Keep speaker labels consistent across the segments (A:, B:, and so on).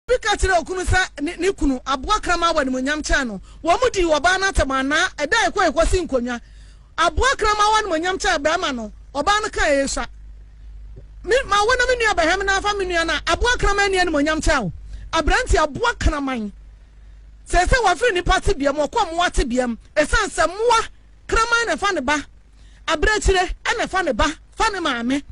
A: Bi ka kyerɛɛ okunu sɛ ne ne kunu aboa kraman wɔ animuonyam kyɛn no. Wɔdii ɔbaa no atɛm anaa? Ɛda a ɛkɔ yi kɔsi nkonnwa. Aboa kraman wɔ animuonyam kyɛn barima no, ɔbaa no kaa eyi sua. Me, ma wo na me nua bɛhwɛ me na afa me nua no a, aboa kraman nni animuonyam kyɛn wo. Aberante, aboa kraman. Seesei wafiri nnipa tebea mu, ɔkɔ mmoa tebea mu. Ɛsiane sɛ mmoa kraman na ɛfa ne ba, abirekyire na ɛfa ne ba fa ne maame.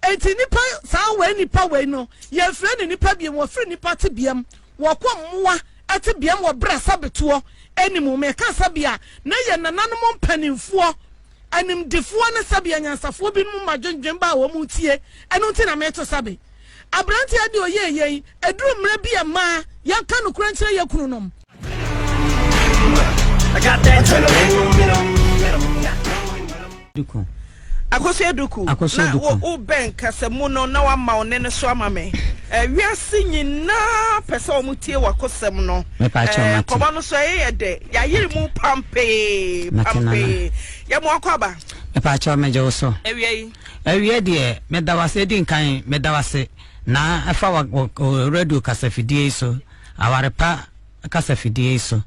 A: Enti nnipa, saa wei nnipa wei no, yɛmfrɛ no nnipa biom, wɔfiri nnipa tebeam, wɔkɔ mmoa tebeam wɔ berɛ a sabetoɔ anim, meka sɛbea na yɛn nananom mpanimfoɔ, animdefoɔ ne sɛbea nyansafoɔ binom ma dwendwen ba a wɔn tie, ɛno nti na meto sabe. Aberanteɛ deɛ ɔyɛɛ yei, ɛduru mmerɛ bi a ɛmaa yɛnka nokorɛ nkyerɛ yɛn kununom.
B: Duku. Akoso Eduku, Akoso na Eduku. wo bɛn kasamu no na wama wo ne no so ama me. Eh, wiase nyinaa pɛ sɛ wɔn tie wakosɛm no. Mepa akyɛw Eh, mate. nkɔmɔ no so ɛyɛ yɛ dɛ. Yɛayere mu pampee, Mate nana. pampee. Yɛ mo akɔ aba. mepa akyɛw megye
C: wo so Awia yi. awie deɛ meda wo ase ɛdi nkan meda wo ase na ɛfa wa- wɔ- wɔ radio kasafidie yi so aware pa kasa fidie yi so.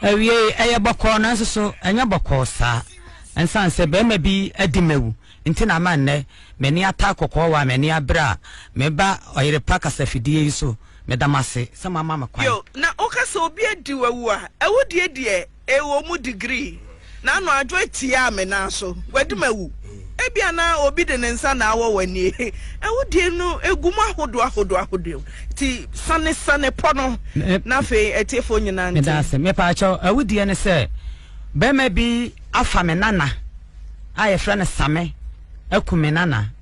C: Awiei, ɛyɛ bɔkɔɔ nanso so ɛnyɛ bɔkɔɔ saa. Ɛnsiane sɛ barima bi adi m'awu nti na ama nnɛ m'ani ataa kɔkɔɔ wɔ a m'ani abere a meba ɔyere pa kasa fidie yi so. Meda mo ase sɛ moama me kwan. Yo, na woka sɛ obi
B: adi w'awu a, ɛwo deɛ deɛ? Ewɔ mu degree na ano adwoe tiaa me nan so, Guadi mawu. Ebia na obi de ne nsa na awɔ w'ani he, awudie no gu mu ahodoɔ ahodoɔ ahodoɔ nti sane sane pɔ no na afei atiefoɔ nyinaa nte. Meda ase. Mepaakyɛw,
C: awudie ne sɛ bɛɛma bi afa me nana a yɛfrɛ no Same aku me nana.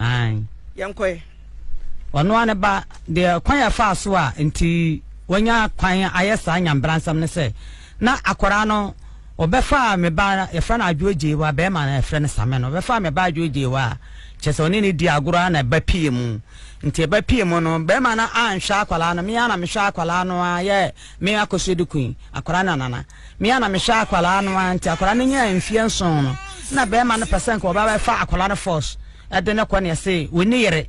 B: Aane.
C: Yɛnkɔ ɛ.
B: Ɔno
C: ara ne ba, deɛ kwan a ɛfaa so a nti wanya kwan ayɛ saa nyanbransɛm ne sɛ, na akwadaa no, wɔbɛfaa me ba, yɛfrɛ no Adwoa Gyeiwa, barima no yɛfrɛ no Same no, wɔbɛfaa me ba Adwoa Gyeiwa a, kyerɛ sɛ ɔne no dii agorɔ ara na ɛba pue mu. Nti ɛba pue mu no, barima no anhwɛ akwadaa no, me ara na mehwɛɛ akwadaa no ara yɛɛ me akɔsoɛdukuu yi, akwadaa no nana. me a na mehwɛ akwadaa no ara nti akwadaa no nyaa mfeɛ nson no na bɛrima no pɛ sɛ nka ɔbɛba bɛfa akwadaa no force ɛde no kɔ ne ɛse wɔni yere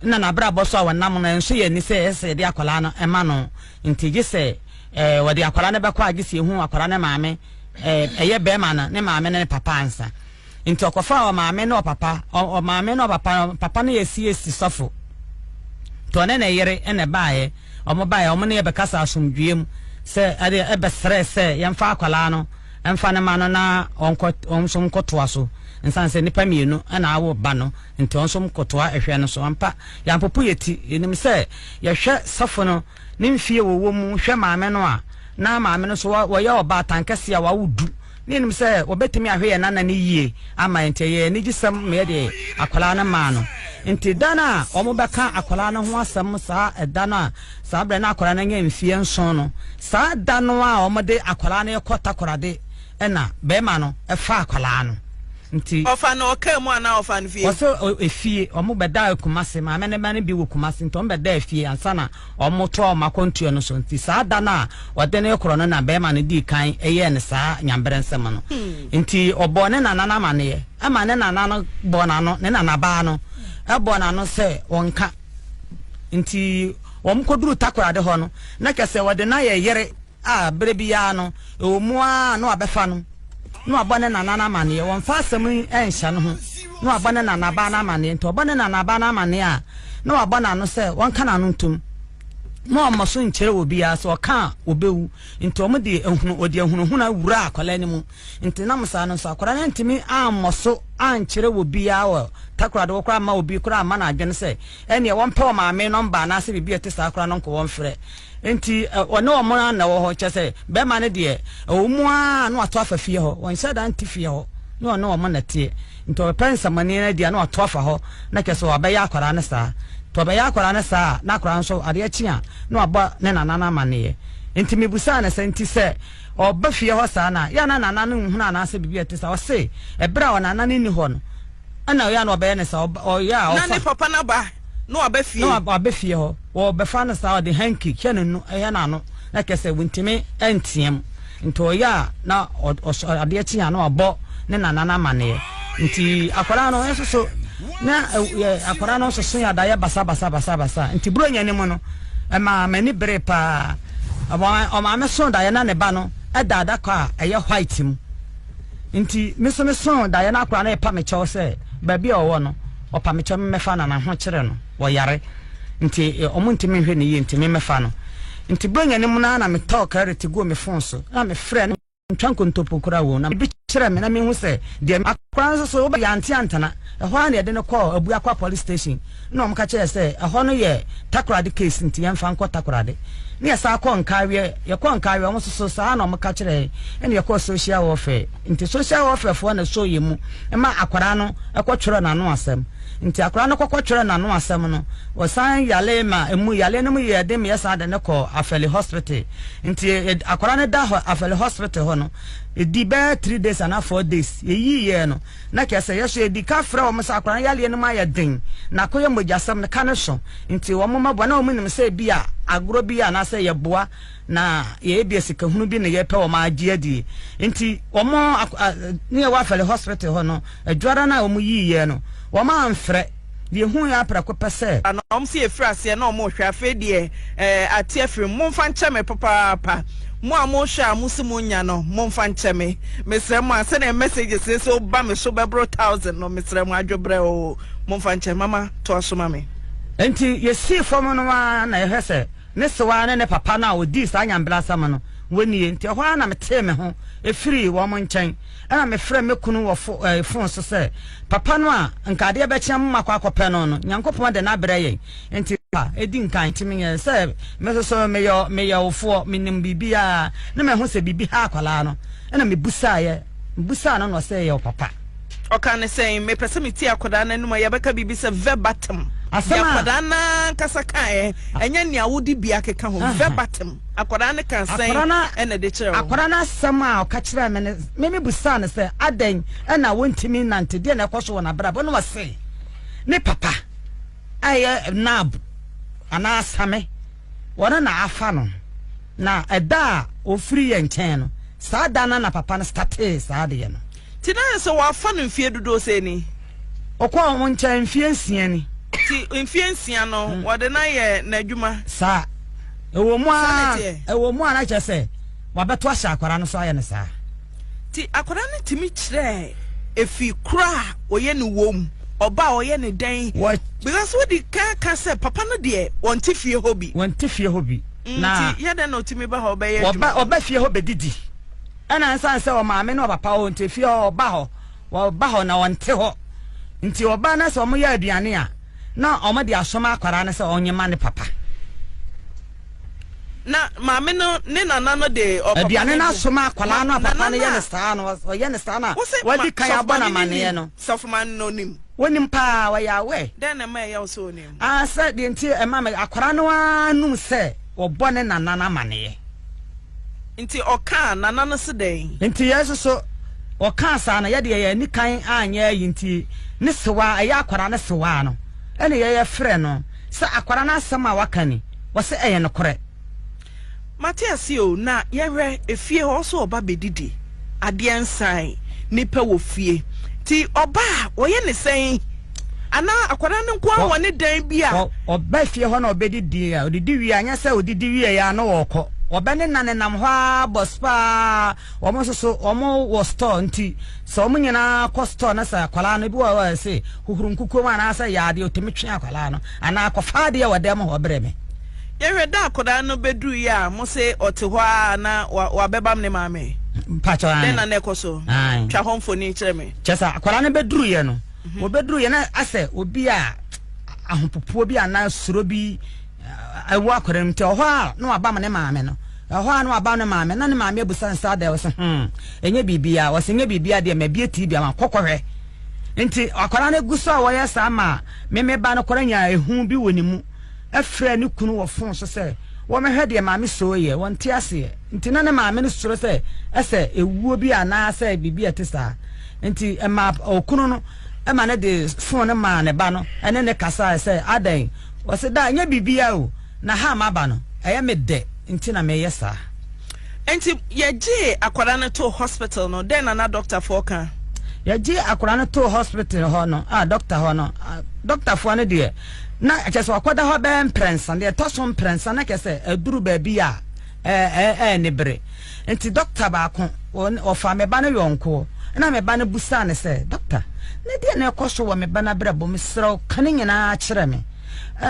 C: na n'abrabɔ so a wɔnam no ɛnso yɛ ani sɛ ɛsɛ yɛde akwadaa no ɛma no nti gye sɛ ɛɛ wɔde akwadaa no bɛkɔ a gye sɛ ehu akwadaa no maame ɛɛ ɛyɛ bɛrima no ne maame ne ne papa ansa. Nti ɔkɔfaa ɔmaame ne ɔpapa, ɔmaame ne ɔpapa, papa no yɛ CAC sɔfo. Nti ɔne ne yere na ɛbaeɛ, wɔn baeɛ, wɔn ne yɛ bɛkasa asomdwoeɛ mu sɛ ɛdeɛ ɛbɛsrɛ sɛ yɛmfa akwadaa no mfa no ma no na ɔnkɔ, wɔn nso nkɔtoa so. Nsan sɛ nnipa mmienu na awo ba no, nti wɔn nso nkɔtoa ɛhwɛ no so. Ampa, yɛampopo yɛn ti, yɛnim sɛ yɛhwɛ sɔfo no ne mfie wɔwɔ mu hwɛ maame no a, na maame no nso wɔyɛ ɔbaatan kɛseɛ a wawo du, Ne nim sɛ wɔbɛtumi ahwɛ yɛn nana no yie ama yɛn nti ɛyɛ anigyesɛm ma yɛde akwadaa no maa no. Nti da no a wɔbɛka akwadaa no ho asɛm saa ɛda no a saa berɛ no akwadaa no anya mfeɛ nson no, saa da no a wɔde akwadaa no rekɔ Takoradi ɛna barima no ɛfa akwadaa no. Nti. Ɔfa no ɔkaa mu
B: anaa ɔfa no fie? Wɔsɛ efie,
C: wɔbɛdaa Kumasi, maame no mma no bi wɔ Kumasi nti wɔbɛdaa fie ansa na. wɔtoaa wɔn akwantuo no so. Nti saa da no a wɔde no rekorɔ no na barima no dii kan yɛɛ no saa nyamberɛ nsɛm no. Nti ɔbɔɔ ne nana no amanneɛ, ɛma ne nana no bɔɔ n'ano, ne nanabaa no bɔɔ n'ano sɛ ɔnka. Nti wɔkɔduruu Takoradi hɔ no, na kyerɛ sɛ wɔde no ayɛ yere. a bere biara no ɛwɔ mu ara na wabɛfa no na wabɔ ne nana no amanneɛ. Wɔmfa asɛm yi nhyɛ no ho na wabɔ ne nanabaa no amanneɛ nti, ɔbɔ ne nanabaa no amanneɛ a, na wabɔ n'ano sɛ wɔnka n'ano ntom na ɔmmɔ so nkyerɛ obiara. Sɛ ɔka a, ɔbɛwu. Nti wɔde ahunu, wɔde ahunahuna wuraa akwadaa no mu. Nti nam saa no nso, akwadaa no antumi ammɔ so ankyerɛ obiara wɔ Takoradi hɔ koraa amma obi koraa amma n'adwene sɛ ɛnneɛ wɔmpɛ wɔn maame nɔmba anaasɛ biribi a ɛte saa koraa no nkɔ wɔmfrɛ Enti ɔne wɔn ara na ɛwɔ hɔ. Kyerɛ sɛ, barima no deɛ, ɛwɔ mu ara a na wato afa fie hɔ. Ɔnhyɛ da nte fie hɔ. Na ɔne wɔn na ɛteɛ. Nti ɔbɛpɛ nsɛmmɔne no adi a, na wato afa hɔ. Na kyerɛ sɛ, wabɛyɛ akwadaa no saa. Nti ɔbɛyɛ akwadaa no saa a, na akwadaa no nso, adeɛ kye a, na wabɔ ne nana no amanneɛ. Enti mebisaa no sɛ, Enti sɛ ɔba fie hɔ saa no a, yɛ a na nana no nhunu anaasɛ biribi a ɛte saa? Ɔse, Ɛberɛ a ɔnana no nni hɔ no, ɛna yɛ a na ɔbɛyɛ no saa. Ɔyɛ a ɔfa. Na ne papa no aba,
B: na waba fie. Na waba fie hɔ.
C: Wɔbɛfa no saa, wɔde hanky hyɛ ne no hyɛ n'ano na kyerɛ sɛ wɔntumi nteam. Nti ɔyɛ a na ɔsɔ adeɛ kye a na wabɔ ne nana no amaneɛ. Nti akwadaa no nsoso na akwadaa no nsoso yɛ adayɛ basa basa basa basa. Nti buronya no mu no ɛmaa m'ani bere paa. Ɔmaame so daeɛ na ne ba no ɛda adaka a ɛyɛ white mu. Nti me nso me so daeɛ na akwadaa no ɛpa me kyɛw sɛ baabi a ɔwɔ no ɔpa me kyɛw me mɛfa nana ho kyerɛ no. wɔyare nti ɔmo ntumi nhwɛ ne yie nti me mɛfa no. Nti Buronya no mu no ara na metɔɔ Clarity guu me fon so na mefrɛɛ no mentwa nkontompo koraa oo na bi kyerɛ me na mehu sɛ deɛ Akora no nso so wobɛ yɛante antena ɛhɔ ara na yɛde no kɔɔ Abuakwa Police Station na ɔmo ka kyerɛɛ sɛ ɛhɔ no yɛ Takorade case nti yɛmfa nkɔ Takorade na yɛsan kɔɔ Nkaaweɛ yɛkɔɔ Nkaaweɛ ɔmo nso so saa na ɔmo ka kyerɛɛ ɛna yɛkɔɔ Social Welfare Nti social welfare foɔ na ɛsɔ yɛn mu ma akwadaa no kɔ twerɛ n'ano asɛm. Nti akwadaa no kɔkɔ twerɛ n'ano asɛm no, wɔsan yale ma ɛmu yaleɛ no mu yɛɛ den ma yɛsan de no kɔɔ Afɛli hospital. Nti akwadaa no da hɔ Afɛli hospital hɔ no, ɛdi bɛyɛ three days anaa four days yɛyii yɛɛ no. Na kyerɛ sɛ yɛso yɛdi ka frɛ wɔn sɛ akwadaa no yaleɛ no mu ayɛ den na akɔyɛ mogyasɛm no ka no so. Nti wɔn mma boa na wɔn nim sɛ ebia agorɔ bi yɛ anaasɛ yɛboa Na yɛyɛ bia sikahunu bi na yɛpɛ wɔn agye adie. Nti wɔn ne yɛwɔ afɛle hospital hɔ no, adwara no a wɔn yii yɛ no, wɔn amfrɛ. Deɛ hu yɛ aprɛko pɛ sɛ. Na wɔn se yɛfiri
B: aseɛ na wɔn rehwɛ. Afei deɛ eh, ate afiri mu. Momfa nkyɛ me papaapa. Mo a mo rehwɛ a mo se mo nya no, momfa nkyɛ me. Mesrɛ mo a, sɛdeɛ messages seesei woba me so bɛboro thousand no, mesrɛ mo, adwobrɛ oo, momfa nkyɛ. Mama, toa so ma me. Nti yɛsii
C: fam no ara na yɛhwɛ sɛ. Ne sewaa ne ne papa no a wɔdii saa nyanberasɛm no, wɔ nie. Nti ɛhɔ ara na metee me ho firii wɔn nkyɛn, ɛna mefrɛɛ me kunu wɔ fo, ɛɛ, fon so sɛ, Papa no a nka adeɛ bɛkye a momakɔ akɔpɛ no no, Nyankopɔn de no abrɛ yɛn, nti, a ɛdi nkan, nti menyɛ sɛ me nso so meyɛ, meyɛ wo foɔ, menim biribiara, na mahu sɛ biribi ha akwadaa no, ɛna mebusaeɛ. Mibisaa no na ɔsɛ yɛ ɔpapa. Ɔka ne sɛ,
B: Mepɛ sɛ metie akwadaa no anom a yɛbɛka biribi sɛ verbatim. Deɛ akwadaa no ankasa kaeɛ, ɛnyɛ nea wode bi akeka ho. Verbatim. Akwadaa no kaa sɛn na ɛde kyerɛɛ wo? Akwadaa no asɛm a
C: ɔka kyerɛɛ me no, me mebisaa no sɛ, adɛn na wontumi nnante? Deɛ na ɛkɔ so wɔ n'abrabɔ na ɔse, ne papa a ɛyɛ nab anaa asame wɔno na afa no na ɛda a ɔfiri yɛ nkyɛn no saa da no na papa no statee saa adeyɛ no. Nti na ayɛ sɛ
B: wafa no mfeɛ dodoɔ sɛn ni? Ɔkɔɔ wo
C: nkyɛn mfeɛ nsia ni. Nti mfeɛ
B: nsia no wɔde no ayɛ n'adwuma? Saa.
C: Ɛwɔ mu a ɛwɔ mu a na kyerɛ sɛ wabɛto ahyɛ akwadaa no so ayɛ no saa. Nti akwadaa
B: no tumi kyerɛɛ efi koro a ɔyɛ ne wɔ mu, ɔba a ɔyɛ ne dɛn. Because wodi kan ka sɛ papa no deɛ wɔnte fie hɔ bi. Wɔnte fie hɔ bi. Mm, na nti yɛ dɛn na ɔtumi ba hɔ ɔbɛyɛ adwuma? Ɔba ɔba fie hɔ bɛdidi.
C: Ɛna nsan sɛ ɔmaame ne ɔpapa ɔnte fie hɔ ɔba hɔ ɔba hɔ na ɔnte hɔ. Nti ɔba na sɛ wɔyɛ aduane a na wɔde asoma akwadaa no sɛ ɔnyema ne papa.
B: Na maame no ne nana no de ɔpapa no gu. Aduane no aso ma akwadaa
C: no a papa no yɛ no saa no, ɔyɛ no saa no a, wadi kan abɔ no amanneɛ no. Sɔfomane no nim.
B: Wonim paa, ɔyɛ
C: aware. Dɛn na ɛma ɛyɛ wo sɛ
B: onim? Ah, sɛ deɛ nti ɛma
C: me, akwadaa no ara num sɛ wɔbɔ ne nana no amanneɛ.
B: Nti ɔkaa nana no se dɛn? Nti yɛn nso so,
C: ɔkaa saa no, yɛ deɛ yɛn ani kan anyɛ ayi nti, ne sewaa, ɛyɛ akwadaa no sewaa no, ɛna yɛyɛ frɛ no. Sɛ akwadaa no asɛm a waka ni, wɔse ɛyɛ nokorɛ. Mate
B: aseɛ o, na yɛhwɛ efie hɔ nso ɔba bɛdidi, adeɛ nsan, nipa wɔ fie, nti ɔba a wɔyɛ ne sɛn? Anaa akwadaa no nko ara wɔ ne dan bi a. Ɔba fie hɔ na
C: ɔbɛdidi a, ɔdidi wie a, nyɛ sɛ ɔdidi wie yɛ a na ɔrekɔ, ɔbɛnenanenam hɔ ara bɔs paa, wɔn nso so wɔn wɔ store nti. Sɛ wɔn nyinaa kɔ store na sɛ akwadaa no bi wɔ hɔ a ɛsɛ hohoro nkukuo mu anaasɛ yɛ adeɛ ɔtumi twe akwadaa no anaa kɔfa adeɛ wɔ dan mu hɔ brɛ me. Yɛhwɛ da
B: akwadaa no bɛduruiɛ a mo se ɔte hɔ ara na wabɛbam ne maame? Mpakyɛw aane. Dɛn na
C: na ɛkɔ so?
B: Aane. Twa hɔ mfoni kyerɛ me. Kyɛ sɛ akwadaa no bɛduruiɛ
C: no, wɔbɛduruiɛ na asɛ obi a ahopopoɔ bi anaa suro bi awu akwadaa mu nti ɔhɔ a na wabam ne maame no ɛhɔ a na wabam ne maame na ne maame abusa ne saa dɛ ɔsɛ hmm ɛnyɛ biribiara ɔsɛ nyɛ biribiara deɛ ma bie tii bi ama kɔkɔhwɛ nti akwadaa no gu so a wɔyɛ saa ma meme ba no kɔrɔ nya ehu bi wɔ ne mu ɛfrɛ ne kunu wɔ fon so sɛ wɔmɛhwɛ deɛ maame soo yɛ wɔn ti aseɛ nti na ne maame no soro sɛ ɛsɛ ewuo bi anaasɛ biribi a ɛte saa nti ɛma ɔkunu no ɛma ne de fon no maa ne ba no ɛne ne kasa sɛ adɛn Ɔse daa nyɛ biribiaa o na ha a maba no ɛyɛ me dɛ nti na meyɛ saa. Nti
B: yɛgyee akwadaa no too hospital no, dɛn na na dɔktafoɔ ka? Yɛgyee akwadaa
C: no too hospital hɔ no a dɔkta hɔ no, dɔktafoɔ no deɛ na kyerɛ sɛ wakɔda hɔ bɛyɛ mprɛnsa, deɛ ɛtɔ so mprɛnsa na kyerɛ sɛ aduru baabi a, Ɛɛ ne bere nti, dɔkta baako ɔfaa me ba no yɔnko na me ba no bisaa no sɛ, Dɔkta, na deɛn na ɛkɔ so wɔ me ba no abrabɔ mu? Serɛ wo, ka ne nyinaa kyerɛ me.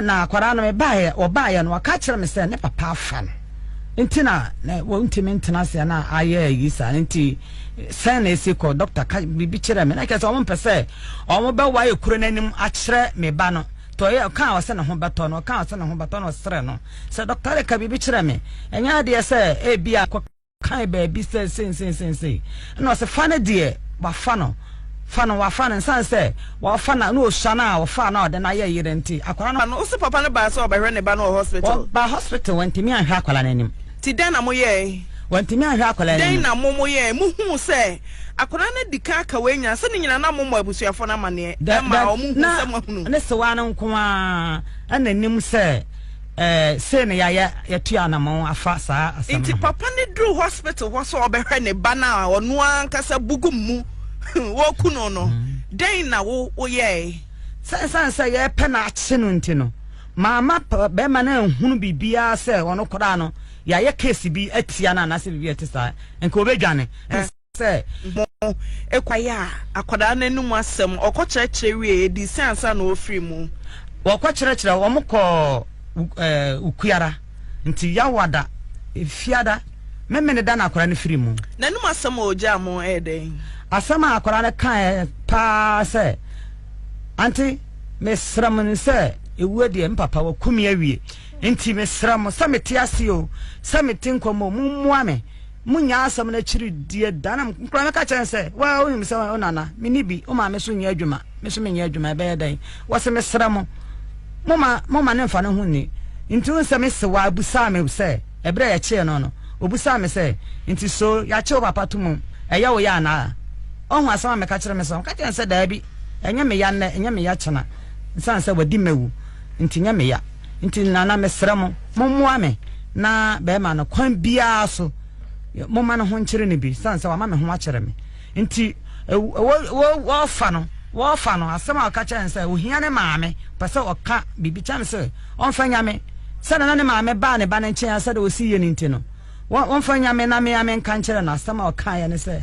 C: Na akwadaa no, mebaeɛ, ɔbaeɛ no, ɔka kyerɛ me sɛ ne papa afa no nti na wɔntumi ntena aseɛ na ayɛ ayi saa nti sɛn na ɛsi kɔ dɔkta ka biribi kyerɛ me na kyerɛ sɛ wɔn mpɛ sɛ wɔn bɛwae kuro no anim akyerɛ me ba no Toye ɔkaa ɔse ne ho bɛtɔ no, ɔkaa ɔse ne ho bɛtɔ no, ɔsrɛ no sɛ Doctor Ade ka biribi kyerɛ me, ɛnyɛ adeɛ sɛ ebia kɔ kan baabi sɛ sei sei sei sei, ɛna ɔse fa no deɛ wafa no, fa no wafa no, ɛnsan sɛ ɔfa no na ɔsua no a ɔfaa no a ɔde no ayɛ yere nti akwadaa no. Ɛna ɔse papa no baa sɛ
B: ɔbɛhwɛ ne ba no wɔ hospital. Ɔbaa hospital, wantumi
C: anhwɛ akwadaa no anim. Nti dɛn na mo yɛɛe?
B: Wantumi anhwɛ akwadaa
C: no anim. Dɛn na mo mo yɛɛe? Mo
B: huu sɛ. Akwadaa no adi kan aka wei nyinaa sɛ ne nyinaa na mommɔ abusuafoɔ no amaneɛ ɛma wɔn hu sɛ moahunu. Na ne sewaa no nko
C: ara na nim sɛ sei na yɛayɛ yɛtu anamɔn afa saa asɛm no ho. Nti papa no duru
B: hospital hɔ sɛ ɔbɛhwɛ ne ba no a ɔno ankasa bugu mu wɔku no no dɛn na wo woyɛe? Sɛ ɛsiane sɛ
C: yɛpɛ no akye no nti no maama bɛrima no anhunu biribiara sɛ ɔno koraa no yɛayɛ case bi atia no anaasɛ biribi a ɛte saa nka ɔbɛdwane. ka sɛ, Mo
B: kwae a akwadaa no anom asɛm, ɔkɔkyerɛkyerɛ wiee, ɛdii sɛ ansa na ɔrefiri mu. Wɔkɔkyerɛkyerɛ,
C: wɔkɔɔ Ukuara, nti Yawada, Fiada, Memeneda na akwadaa no firii mu. N'anom asɛm a ɔgyaa
B: mo yɛ dɛn? Asɛm a akwadaa no
C: kaeɛ pa ara sɛ, Ante, mesrɛ mo sɛ ɛwuo deɛ, me papa waku me awie, nti mesrɛ mo sɛ mete ase o, sɛ mete nkwa mu o, mommoa me. Mo nyaasɛm no akyiri deɛ da na mkura mɛka kyerɛ no sɛ waa wonim sɛ wo nana meni bi woma me so nyɛ adwuma me so menyɛ adwuma ɛbɛyɛ dɛn wɔse mesrɛ mo moma moma ne mfa no ho nni nti wo nsɛ me se waa busaa me sɛ ɛberɛ yɛkyee no no obusaa me sɛ nti so yɛakye wo papa to mu ɛyɛ wo yɛ anaa ɔho asɛm a meka kyerɛ me sɛ meka kyerɛ no sɛ daabi ɛnyɛ me ya nnɛ ɛnyɛ me ya kyena nsane sɛ wadi mawu nti nyɛ me ya nti nana mesrɛ mo mommoa me na bɛrima no kwan biara so momma no ho nkyere no bi sane sɛ wama me ho akyerɛ me nti wɔfa no wɔfa no asɛm a ɔka kyerɛ no sɛ ohia ne maame pɛ sɛ ɔka biribi kyɛm sɛ ɔmfa nyame sɛ nana ne maame baa ne ba no nkyɛn asɛ dɛ ɔsi yɛ no nti no ɔmfa nyame na mea menka nkyerɛ no asɛm a ɔkaeɛ ne sɛ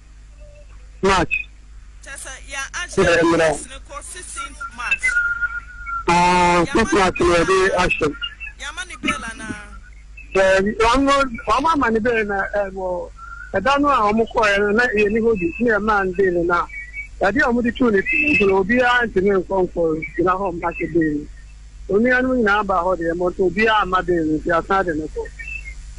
D: March
B: yɛ mmerɛ aa six March na yɛde
D: ahyɛ
B: daabi ɔno wɔn ama
D: ne bɛyɛ na ɛwɔ ɛda no a wɔn kɔɛ no na yɛ ne hɔ bi ne yɛ maa ne bɛyɛ no na yɛde a wɔn de tu ne ti nti na obiara ntumi nkɔ nkɔ gyina hɔ mma hyɛ bɛyɛ no. Onua nom nyinaa baa hɔ deɛ, but obiara amma bail no, nti asan de no kɔ.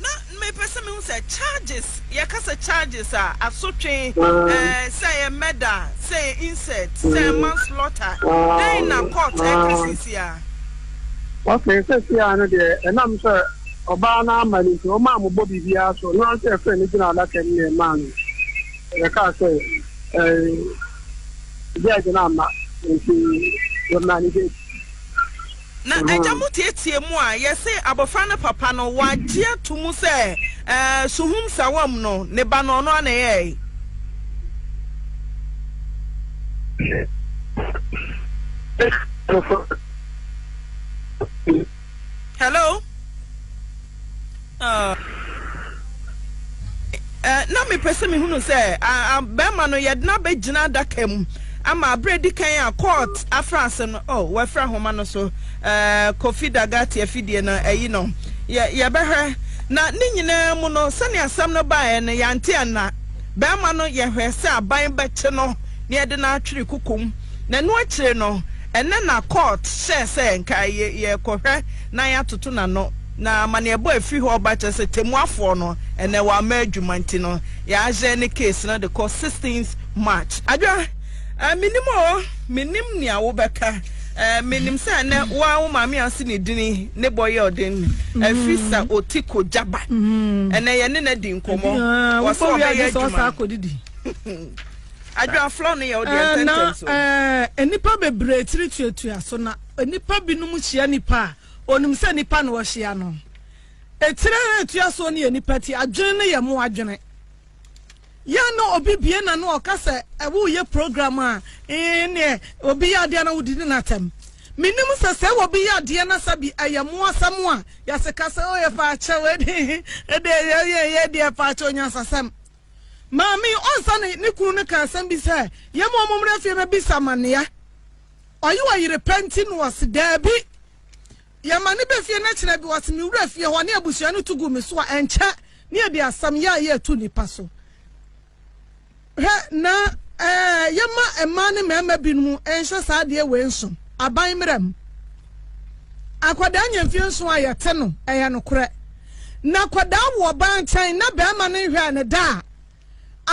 D: Na
B: mepɛ sɛ mehu sɛ charges, yɛka sɛ charges a, asotwe, Ah. eh, sɛ ɛyɛ murder, sɛ ɛyɛ incest, sɛ ɛyɛ Mm. manslaughter, Ah, dɛn na court ah. ɛka
D: seesiaa? Okay, seesiaa no deɛ, ɛnam sɛ ɔbaa no amma no nti, wɔmaa mo bɔ biribiara so, ɔno ankasa ɛfrɛ no gyina adaka mu na ɛmaa no, yɛkaa sɛ, eh, judge no amma, nti wɔmaa no judge.
B: Na agya mu teɛteɛ mu a, yɛse abɔfra no papa no, wagye ato mu sɛ ɛɛ suhum sawam no, ne ba no, ɔno ara na ɛyɛɛe.
D: Hello? Uh, uh,
B: na mepɛ sɛ mehunu sɛ uh, bɛrima no yɛde no abɛgyina adaka mu ama aberɛ di kan a court afra ase no oh, wɔafira homa no so uh, kofi dagate afidie no ayi no yɛbɛhwɛ na ne nyinaa mu no sɛnea asɛm no baeɛ no yɛante anna bɛrima no yɛhwɛ sɛ aban bɛkye no ne yɛde no atwere koko mu, na ɛno akyire no, ɛnnɛ na court hyɛɛ sɛ nka yɛkɔhwɛ na yɛatoto n'ano, na amaneɛbɔ a ɛfiri hɔ reba kyerɛ sɛ tɛmmuafoɔ no ɛnnɛ wamma adwuma nti no yɛahyɛn ne case no de kɔ 16th March. Adwa, eh, mennim o, mennim nea wobɛka, eh, menim sɛ ɛnnɛ wo ara wo maame ase ne dini ne bɔ yɛ ɔden, mm-hmm. ɛfiri sɛ ɔti ko gyaba, mm-hmm. ɛnnɛ yɛne no adi nkɔmmɔ, wɔ sɛ ɔbɛyɛ adwuma. Na nnipa
A: bebree tiri tuatua so, na nnipa binom hyia nnipa a onim sɛ nnipa na wɔhyia no. Etiri a etua so no yɛ nnipa ti, adwene no yɛ mo adwene. Yɛn na obi bie na no ɔka sɛ ɛwo yɛ program a ee neɛ obi yɛ adeɛ na wodi ne n'atɛm. Menim sɛ sɛ obi yɛ adeɛ na sɛ bi ɛyɛ mo asɛm a yɛseka sɛ o yɛ faakyɛ wei de ɛde yɛ yɛ deɛ faakyɛ onyansasɛm. Maame Ɔnsa ne ne kunu no kaa asɛm bi sɛ, Yɛn mma wɔmmra fie mmɛbisa amanneɛ. Ɔyɛ ɔyere pa nti na ɔse, Daabi. Yɛma no ba fie na kyerɛ bi ɔse, Mewura fie hɔ ne abusua no tu gu me so a, ɛnkyɛ ne yɛde asɛm yɛ a yɛretu nnipa so. Hwɛ na ɛɛ, yɛma mmaa ne mmarima binom nhyɛ saa adeɛ wei nsom, aban mmara mu. Akwadaa nya mfie nson a yɛte no, ɛyɛ nokorɛ. Na akwadaa wo ɔbaa nkyɛn na barima no nhwɛɛ no da a,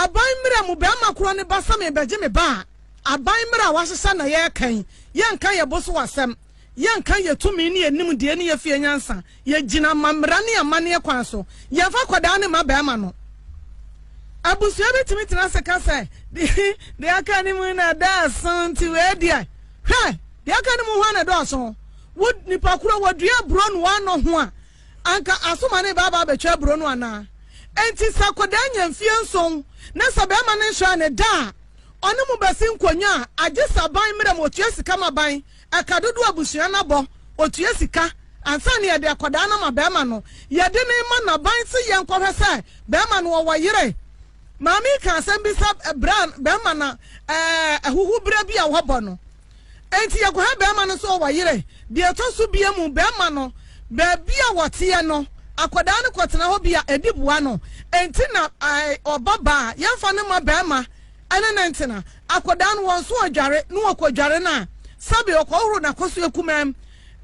A: aban mmara mu barima korɔ no ba sɛ merebɛgye me ba a, aban mmara a wɔahyehyɛ na yɛreka yi, yɛnka yɛn bo so asɛm, yɛnka yɛn tumi ne yɛn nimdeɛ ne yɛn fie nyansa, Yɛgyina ma mmara ne amanneɛ kwan so. Yɛmfa akwadaa ne mma barima no. Abusua bi tumi tena ase ka sɛ, Deɛ aka no mu na ɛdɔɔso nti wei deɛ. Hwɛ! Deɛ aka no mu hwan na ɛdɔɔso? Wo nipa koro wɔdua aburo na wɔanɔ ho a, anka asoma ne ba aba abɛtwa aburo no anaa? Enti sɛ akwadaa nya mfeɛ nson na sɛ barima no nhyɛ ne da a, ɔne mo bɛsi nkonnwa a, agye sɛ aban mmara mu ɔtua sika ma aban Ɛka dodoɔ abusua no abɔ, ɔtua sika, ansa na yɛde akwadaa no ama barima no. Yɛde no rema n'aban se yɛnkɔhwɛ sɛ barima no ɔwɔ yere. Maame yi kaa asɛm bi sɛ berɛ a barima no ahuhu berɛ bi a wɔabɔ no nti yɛkɔhwɛ barima no sɛ ɔwɔ yere. Deɛ ɛtɔ so biemu, barima no baabi a wɔteɛ no akwadaa no kɔtena hɔ bi a ɛdi boa no nti na ɔba baa. Yɛmfa no mma barima. ɛne ne ntena. Akwadaa no, wɔn nso ɔdware, na ɔkɔ dware no a, sɛbe ɔkɔhohoro n'akɔso akumaa mu.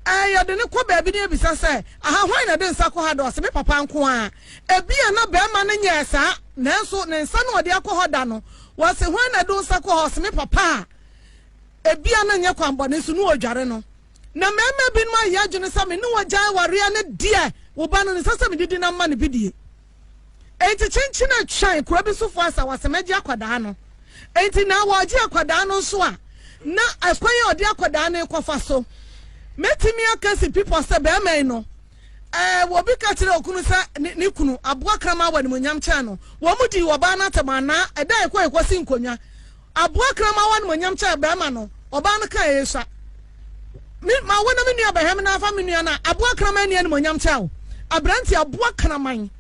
A: Ɛɛ, yɛde no kɔ baabi na yɛbisa sɛ, Aha, hwan na ɛde nsa kɔ ha da? Ɔse, Me papa nko ara. Ebia na barima no nyɛɛ saa, nanso ne nsa na ɔde akɔ hɔ da no. Wɔse, Hwan na ɛde wo nsa kɔ hɔ? Ɔse, Me papa a ebia na ɛnyɛ kwammɔne nso na ɔdware no. Na mmarima binom ayɛ adwene sɛ me ne wo agyae awareɛ no deɛ, wo ba no, ɛnsɛ sɛ mede di nam ma no bi die. Enti kyenkyen a twɛn kuro bi sofoɔ asawasɛm agye akwadaa no. Enti na wɔregye akwadaa no nso a, na ɛkwan a ɔde akwadaa no rekɔfa so. Mɛtumi aka si pipɔ sɛ bɛrima yi no, ɛɛ, wɔbi ka kyerɛ okunu sɛ ne, ne kunu, aboa kraman wɔ animuonyam kyɛn no. Wɔn dii ɔbaa no atɛm anaa ɛda a ɛkɔ ɛkɔsi nkonnwa. Aboa kraman wa animuonyam kyɛn barima no, ɔbaa no kaa eyi sa. Me, ma wo na me nua bɛhwɛ me na afa me nua no a, aboa kraman nni animuonyam kyɛn wo. Aberante, aboa kraman,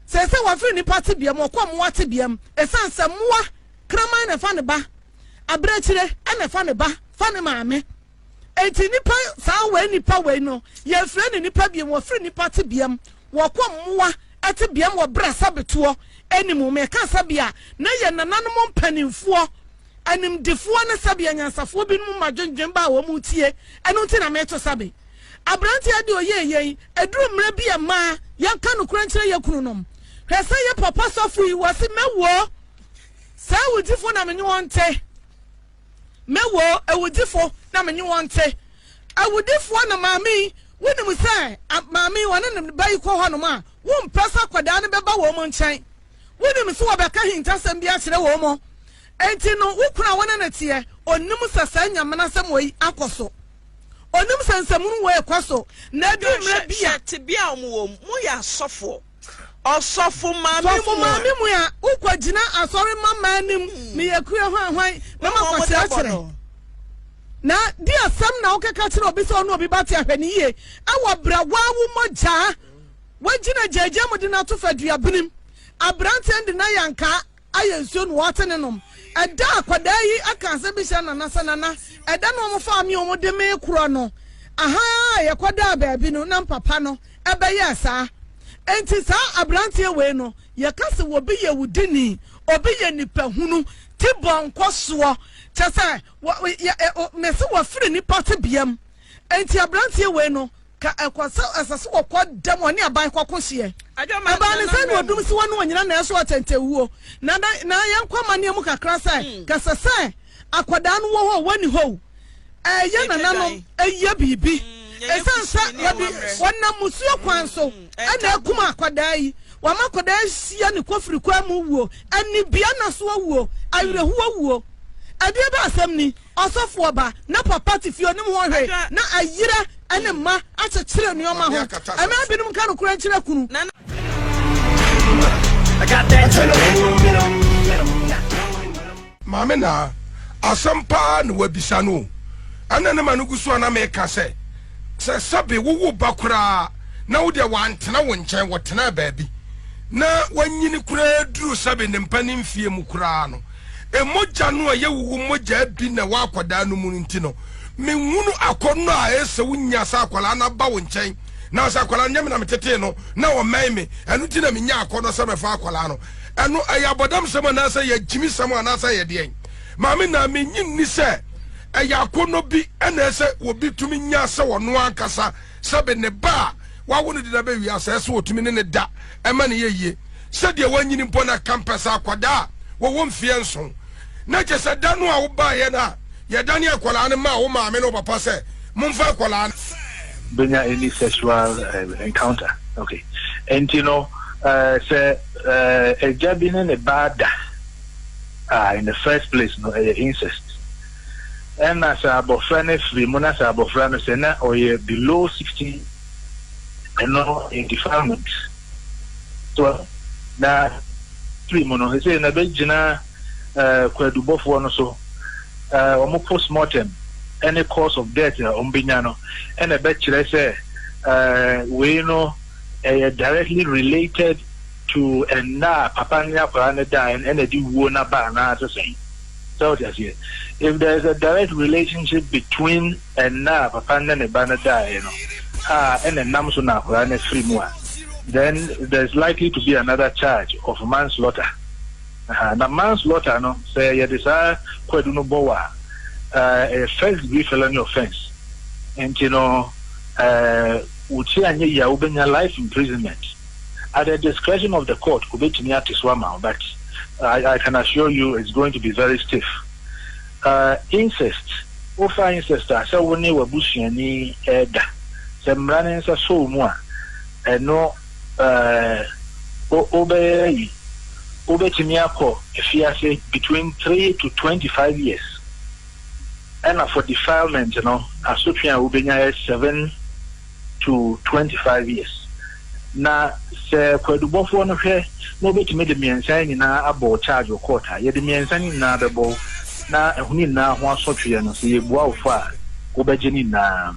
A: seesei wafiri nnipa tebea mu, ɔkɔ mmoa tebea mu, ɛsiane sɛ mmoa kraman na ɛfa ne ba, abirekyire na ɛfa ne ba fa ne maame. Enti nnipa, saa wei nnipa wei no, yɛfrɛ no nnipa biom, wɔfiri nnipa te biam, wɔkɔ mmoa te biam wɔ berɛ a sabetoɔ anim, meka sɛbea na yɛn nananom mpanimfoɔ, animdefoɔ ne sɛbea nyansafoɔ binom ma dwendwen ba a wɔn tie, ɛno nti na meto sabe. Aberanteɛ de ɔyɛɛ yɛn, ɛduru mmerɛ bi a mmaa, yɛnka nokorɛ nkyerɛ yɛn kununom. Hwɛ sɛ yɛn papa sɔfo yi, wɔse mɛwuo, saa awudifoɔ na menye wɔn nte. Me wo awudifo na me ne wɔn te. Awudifoɔ na maame yi, wonim sɛ maame yi ɔne ne ba yi kɔ hɔnom a, wompɛ sɛ akwadaa no bɛba wɔn nkyɛn. Wonim sɛ wɔbɛka ahintasɛm bi akyerɛ wɔn. Enti no, wo kunu a wo ne no teɛ, ɔnim sɛ saa nyamanasɛm wɔ yi akɔ so. Ɔnim sɛ nsɛmunu wɔ rekɔ so, na ɛduru mmerɛ bi a. Hwɛ tebea a wɔwɔ
B: mu. Moyɛ asɔfoɔ. Ɔsɔfo maame mu a. Sɔfo maame mu a wokɔ
A: gyina asɔre ma mmaa anim ne yɛ kue hwan hwan na ma kɔ kyerɛkyerɛ. Na di asɛm na wokeka kyerɛ obi sɛ ɔne obi ba te ahwɛ ne yie ɛwɔ berɛ waa wo mogyaa wagyina gyaagyaa mu de no ato fa dua binim. Aberanteɛ no de no ayɛ ankaa ayɛ nsuo na wɔate ne nom. Ɛda a akwadaa yi aka asɛm bi kyerɛ Nana sɛ, Nana, ɛda no a wɔfaa me a wɔde me rekorɔ no, aha ara a yɛkɔdaa baabi no, na me papa no bɛyɛɛ saa. Enti saa aberanteɛ wei no, yɛka sɛ obi yɛ wudini, obi yɛ nipahunu, ti bɔ nkɔsoɔ, kyerɛ sɛ, mese wafiri nnipa tebea mu. Enti aberanteɛ wei no, Ka ɛkɔ sɛ ɛsɛ sɛ wɔkɔ da mu ɔne aban kɔko hyeɛ. Ɛbaa ne sɛ ne ɔdum si wɔ ne ɔnyina na ɛso ɔtɛntɛ wuo. Na na yɛn kɔ amaneɛ mu kakra sɛ hmm. kɛsɛ sɛ akwadaa no wɔ hɔ wɔ ni hɔ o. Ɛyɛ nananom ɛyɛ biribi. Ɛsan sɛ wɔde wɔnam musuo kwan so hmm. ɛna ɛkum akwadaa yi. Wɔama akwadaa hyia ne kofiri kwan mu wuo. Ɛnibia na so wuo. Awerɛhoɔ wuo. Ɛdeɛ bɛ asɛm ni. Ɔsɔfoɔ ba, na papa te fie, ɔnim ho hwee, na ayera ne mma akyekyere nneɛma ho. Mmaa binom nka nokorɛ nkyerɛ kunu.
E: Maame naa, asɛm paa na wabisa no o. Ɛna ne ma no gu so a na meka sɛ, sɛ sɛbe wowo ba koraa na wo deɛ wantena wo nkyɛn, wɔtenaa baabi na wanyini koraa duru sɛbe ne mpanin mfeɛ mu koraa no, mogya no a ɛyɛ wo wo mogya bi na ɛwɔ akwadaa no mu no nti no, menhunu akɔnnɔ a ɛyɛ sɛ wonya sɛ akwadaa no aba wo nkyɛn. Nanso akwadaa no, nyɛ me na metetee no, na wɔmmɛn me, ɛno nti na menyaa akɔnnɔ sɛ mɛfa akwadaa no. Ɛno, ɛyɛ abɔdamsɛm anaasɛ ɛyɛ agyimisɛm anaasɛ ɛyɛ deɛn? Maame, na mennye nni sɛ ɛyɛ akɔnnɔ bi na ɛsɛ obi tumi nya sɛ ɔno ankasa Sɛbe ne ba a wawo no deda bɛ wiase ɛsɛ otumi ne ne da ɛma ne yɛ yie sɛdeɛ wanyini mpo na kampɛsɛ akwadaa a wɔwɔ mfeɛ nson na kyɛ sɛ da no a wobaeɛ no a yɛdane akwadaa no maa wo maame ne wo papa sɛ momfa akwadaa no bɛnya
F: any sexual uh, encounter okay ɛnti no uh, sɛ uh, agya bi ne ne ba da uh, in the first place no ɛyɛ incest Ɛna sɛ abɔfra no afiri mu na sɛ abɔfra no sɛ na ɔyɛ below sixteen, ɛno yɛ defilement. So na firi mu no sɛ na bɛgyina eh, kwadubɔfoɔ no so eh, wɔn post mortem ɛne cause of death a wɔn bɛnya no ɛna ɛbɛkyerɛ sɛ eh, wei no ɛyɛ directly related to ɛnna a papa ne akwadaa no da ɛna ɛde wuo no aba anaa sɛ sɛn. So wote aseɛ? If there is a direct relationship between ɛnna a papa no ne ne ba no daeɛ no a ɛna ɛnam so na akwadaa no afiri mu a, then there is likely to be another charge of manslaughter. Aha, na manslaughter no, sɛ yɛde saa kwadu no bɔ wo a, eh, ɛyɛ first degree felony offence. Nti no, eh, wo ti anyɛ yie a, wobɛnya life imprisonment. at the discretion of the court obetumi ate so ama wo but I, I can assure you it's going to be very stiff uh, incest wofa incest a sɛ wo ne w'abusuani ɛda sɛ mmara ne nsa sɔ wo mu a ɛno uh, wobɛyɛ yi wobɛtumi akɔ afiase between 3 to 25 years ɛna for defilement no asotwe a wobɛnya yɛ 7 to twenty five years. Na sɛ kwaadubɔfoɔ no hwɛ na wɔbɛtumi de mmiɛnsa yi nyinaa abɔ wo charge wɔ court a, yɛde mmiɛnsa no nyinaa bɛbɔ wo, na ɛho no nyinaa ho asotweɛ no, sɛ yɛbua wo fɔ a, wobɛgye ne nyinaa.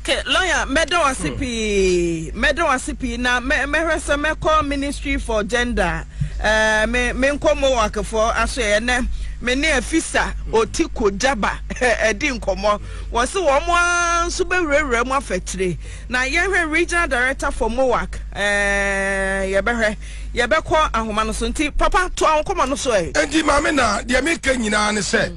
F: Okay,
B: lawyer, mɛda wo ase pii, mɛda wo ase pii, na mɛ mɛhwɛ sɛ mɛkɔ Ministry for Gender, ɛɛ eh, me me nkɔ Mohawkfoɔ aso ɛyɛ nɛ, me ne Afisa Otiko Jaba ɛdi nkɔmɔ. Wɔse wɔn ara nso bɛwurawura mu afa akyire. Na yɛhwɛ Regional Director for MOAC eh, yɛbɛhwɛ, yɛbɛkɔ ahoma no so. Nti papa toa wo nkɔmmɔ no so eh. Enti Maame Naa,
E: deɛ meka nyinaa ne sɛ,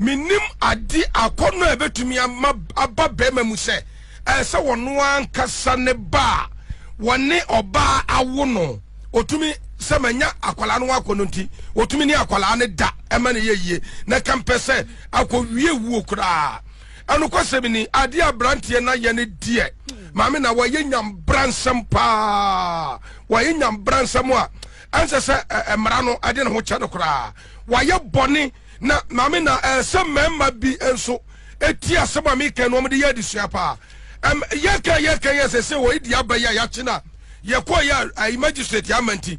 E: mennim ade akɔnnɔ a ɛbɛtumi ama aba barima mu sɛ ɛyɛ sɛ ɔno ankasa ne ba a wɔne ɔbaa awo no, ɔtumi sɛ manya akwadaa no ho akɔnnɔ nti, ɔtumi ne akwadaa no da ɛma no yɛ yie. Na ɛka mpɛ sɛ akɔwie wuo koraa ɛnokwasɛm ni adeɛ abranteɛ na yɛ no deɛ maame na wɔyɛ nyambransɛm paa wɔyɛ nyambransɛm a ɛnsɛ sɛ mmara no ɛde ne ho kyɛ no koraa wɔayɛ bɔne na maame na ɛsɛ mmarima bi nso ɛti asɛm a meka no ɔmde yɛ adesua paa yɛka yɛka yɛ sɛ sɛ wɔyɛ di abɛyɛ a yɛakye no a yɛkɔyɛ a magistrate ama nti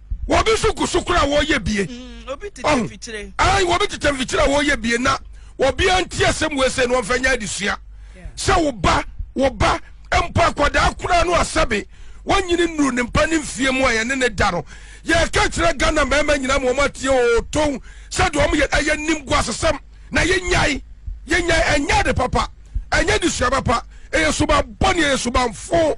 E: wɔbi so gu so koraa wɔyɛ bie
B: mm, wɔbi tetɛ mfikyire
E: a wɔyɛ bie na wɔbia nti asɛm wei sɛ no wɔmfa nya adesua sɛ wo ba wo ba mpo akwadaa koraa no asɛbe wɔnyini nnuru ne mpa ne mfie mu a yɛne ne da no yɛka kyerɛ ghana mmarima nyina ma wɔn atie ɔɔtɔn sɛdeɛ wɔn yɛ ɛyɛ nim gu asesɛm na yɛnyae yɛnyae ɛnyɛ de papa ɛnyɛ de sua papa ɛyɛ suban bɔne ɛyɛ suban fo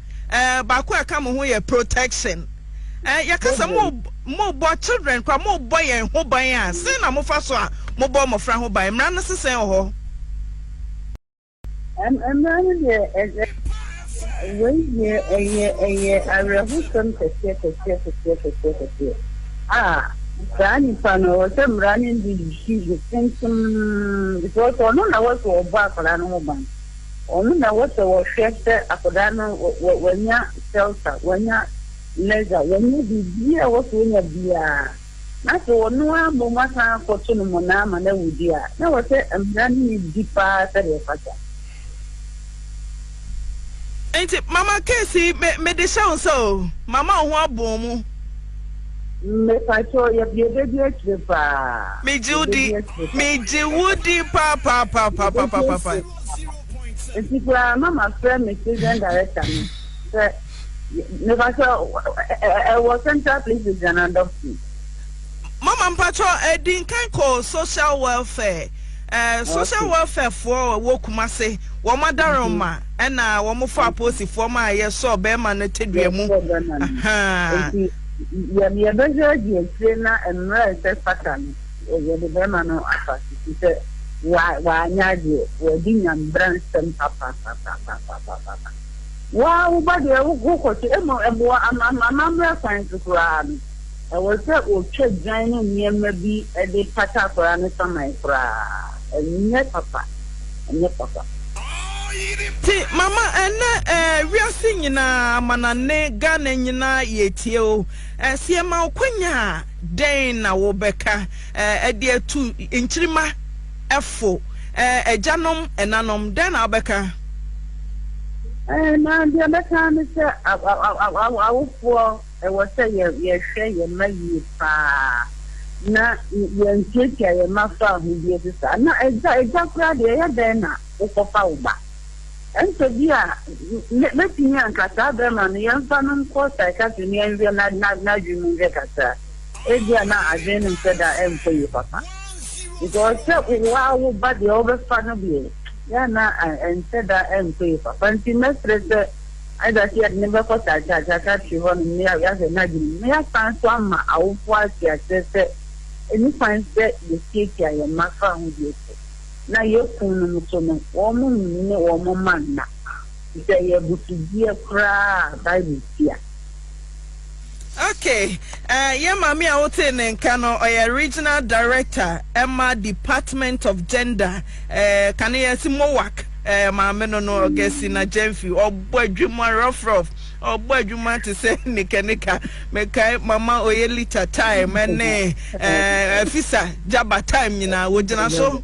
B: eh, baako a ɛka mo ho yɛ protection. Eh, yɛka sɛ mo mobɔ children kora mobɔ yɛn ho ban a, sɛn na mofa so a mobɔ mmɔfra ho ban? Mmara no se sɛn wɔ hɔ?
G: Mmara no deɛ wei deɛ ɛyɛ ɛyɛ awerɛhosɛm kɛseɛ kɛseɛ kɛseɛ kɛseɛ kɛseɛ a saa nipa no wɔ sɛ mmara no de decision ntom because ɔno na wɔ sɛ ɔbɔ akwadaa no ho ban. Wɔn na wɔsɛ wɔhwɛ sɛ akwadaa no wanya shelter, wanya leisure, wanya biribiara a ɛwɔ sɛ ɔnya biara, na sɛ ɔno ara mmom asan akɔto no mmonnaa ma no awu deɛ a, na ɛwɔ sɛ mmara no yɛ di pa ara sɛdeɛ ɛfata.
B: Enti mama case yi, me, mede hyɛ wo nsa o, mama wo ho abɔn mu.
G: Mepakyɛw yɛbea bedi akyire paa. Megye wo di,
B: megye wo di paapaapaapaapaapa.
G: Nti koraa na ma frɛ me children director no sɛ mepakyɛw ɛwɔ central places deɛ na adɔpti. Mama
B: mpakyɛw ɛdi nkan kɔ social welfare. Social welfare foɔ wɔ kumase wɔn adaren ma ɛna wɔn fɔ aposi foɔ ma yɛ sɔ bɛɛma no te dua mu ahaa.
G: Nti yɛ yɛ bɛ hwɛ di akyire na mmerɛ nsɛ fata no yɛ de bɛɛma no afa sisi sɛ wa wa anya adeɛ wa di nyambra nsɛm papa papa papa papa papa wa wo ba deɛ wo kɔ kye ɛmɔ ɛmɔ ama ama mmerɛ kwan so koraa no. Ɛwɔ sɛ wɔtwa dwan ne nneɛma bi de kata akwadaa
B: no saman koraa. Ɛnyɛ papa. Ɛnyɛ papa. Te mama ɛnɛ eh wiase nyinaa amanane Ghana nyinaa yɛtie o eh sɛ yɛma wo kwanya a dɛn na wo bɛka eh ɛde atu nkyirima ɛfo eh agyanom ɛnanom dɛn na wo bɛka. Eh na
G: deɛ bɛka ne sɛ awofoɔ. ɛwɔ sɛ yɛhwɛ yɛn mma yie paa na yɛntuatua yɛn mma fo ahodie so saa. Na agya, agya koraa deɛ ɛyɛ dɛn na wokɔfa wo ba? Ɛnte bi a mɛtumi anka saa bɛrima no yɛmfa no nkɔ psychiatry na yɛnhwɛ n'adwene mu nhwɛ kakra. Ebi a na adwene no nhyɛ da nkɔ yie papa. Because sɛ wo ara wo ba deɛ wobɛfa no deɛ, yɛ a na ɛnhyɛ da nkɔ yie papa. Nti mɛsrɛ sɛ Ɛda so yɛde no bɛkɔ Sakyakyakya tiri hɔ nom na yɛahwɛ no adwenem na yɛasan nso ama awofoɔ ate aseɛ sɛ ɛni kwan sɛ yɛtiatia yɛn mma fa ho bio so na yɛkun nom nso no wɔn nnwene wɔn mma nna te sɛ ɛyɛ abusudie koraa a Bible tia. Okay
B: eh, yɛn maame a wotee ne nka no, ɔyɛ Regional Director ɛma Department of Gender eh, kane yɛse MOWAC eh, maame no no Augustina Gyamfi, ɔbɔ adwuma rough rough, ɔbɔ adwuma te sɛ nika nika, mekae Mama Oyelita time ne eh, Afisa Jaba time nyinaa, wogyina so.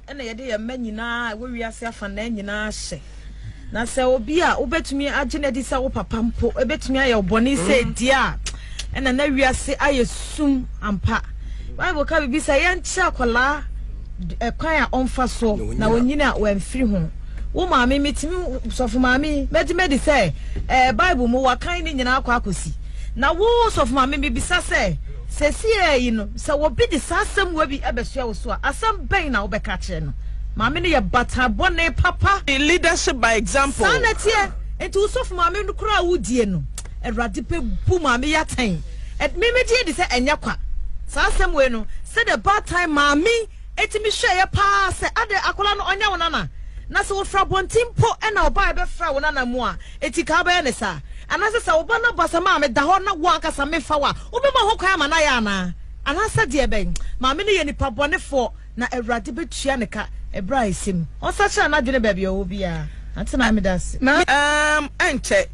H: na yɛde yɛn mma nyinaa a ɛwɔ wiase afanaa nyinaa hyɛ. Na sɛ obi a wobɛtumi agye no adi sɛ wo papa mpo ɛbɛtumi ayɛ wo bɔne sɛ mm. ɛdi a ɛna na wiase ayɛ sum ampa. Bible ka biribi sɛ yɛnkyerɛ akwadaa ɛkwan a ɔmfa so na ɔnyini a wɔamfiri ho. Wo maame metumi sɔfo maame mɛgye mɛdi sɛ ɛɛ Bible mu wakan ne nyinaa akɔ akɔsi. Na wo sɔfo maame mebisa sɛ Seesei yi no, sɛ obi de saa asɛmmoa bi bɛsoa wo so a, asɛm bɛn na wobɛka akyerɛ no? Maame no yɛ bataa bɔne papa. Leadership by
B: example. Saa na ɛteɛ. Enti
H: wo sɔfo maame no koraa a wodie no, Awurade bɛbu maame yi atɛn. Ɛ, me, megye di sɛ ɛnyɛ kwa. Saa asɛm wei no, sɛdeɛ baatan maame yi tumi hwɛeɛ pa ara sɛ, adɛn, akwadaa no, ɔnyɛ wo nana? Na sɛ wɔfiri abɔnten mpo na ɔbaeɛ bɛfraa wo nana mu a, Enti ka wobɛyɛ no saa? Anaasɛ sɛ wo ba no aba sɛ, Maame, da hɔ na wo ankasa memfa wo a, wobɛma ho kwan ama no ayɛ anaa? Anaasɛ deɛ bɛn? Maame no yɛ nipa bɔnefoɔ, na Awurade bɛtua no ka ɛberɛ a ɛsɛ mu. Ɔnsakyera n'adwene baabi a ɔwɔ biara. Ante Maame meda ase. Na ɛɛm
B: ɛnkyɛ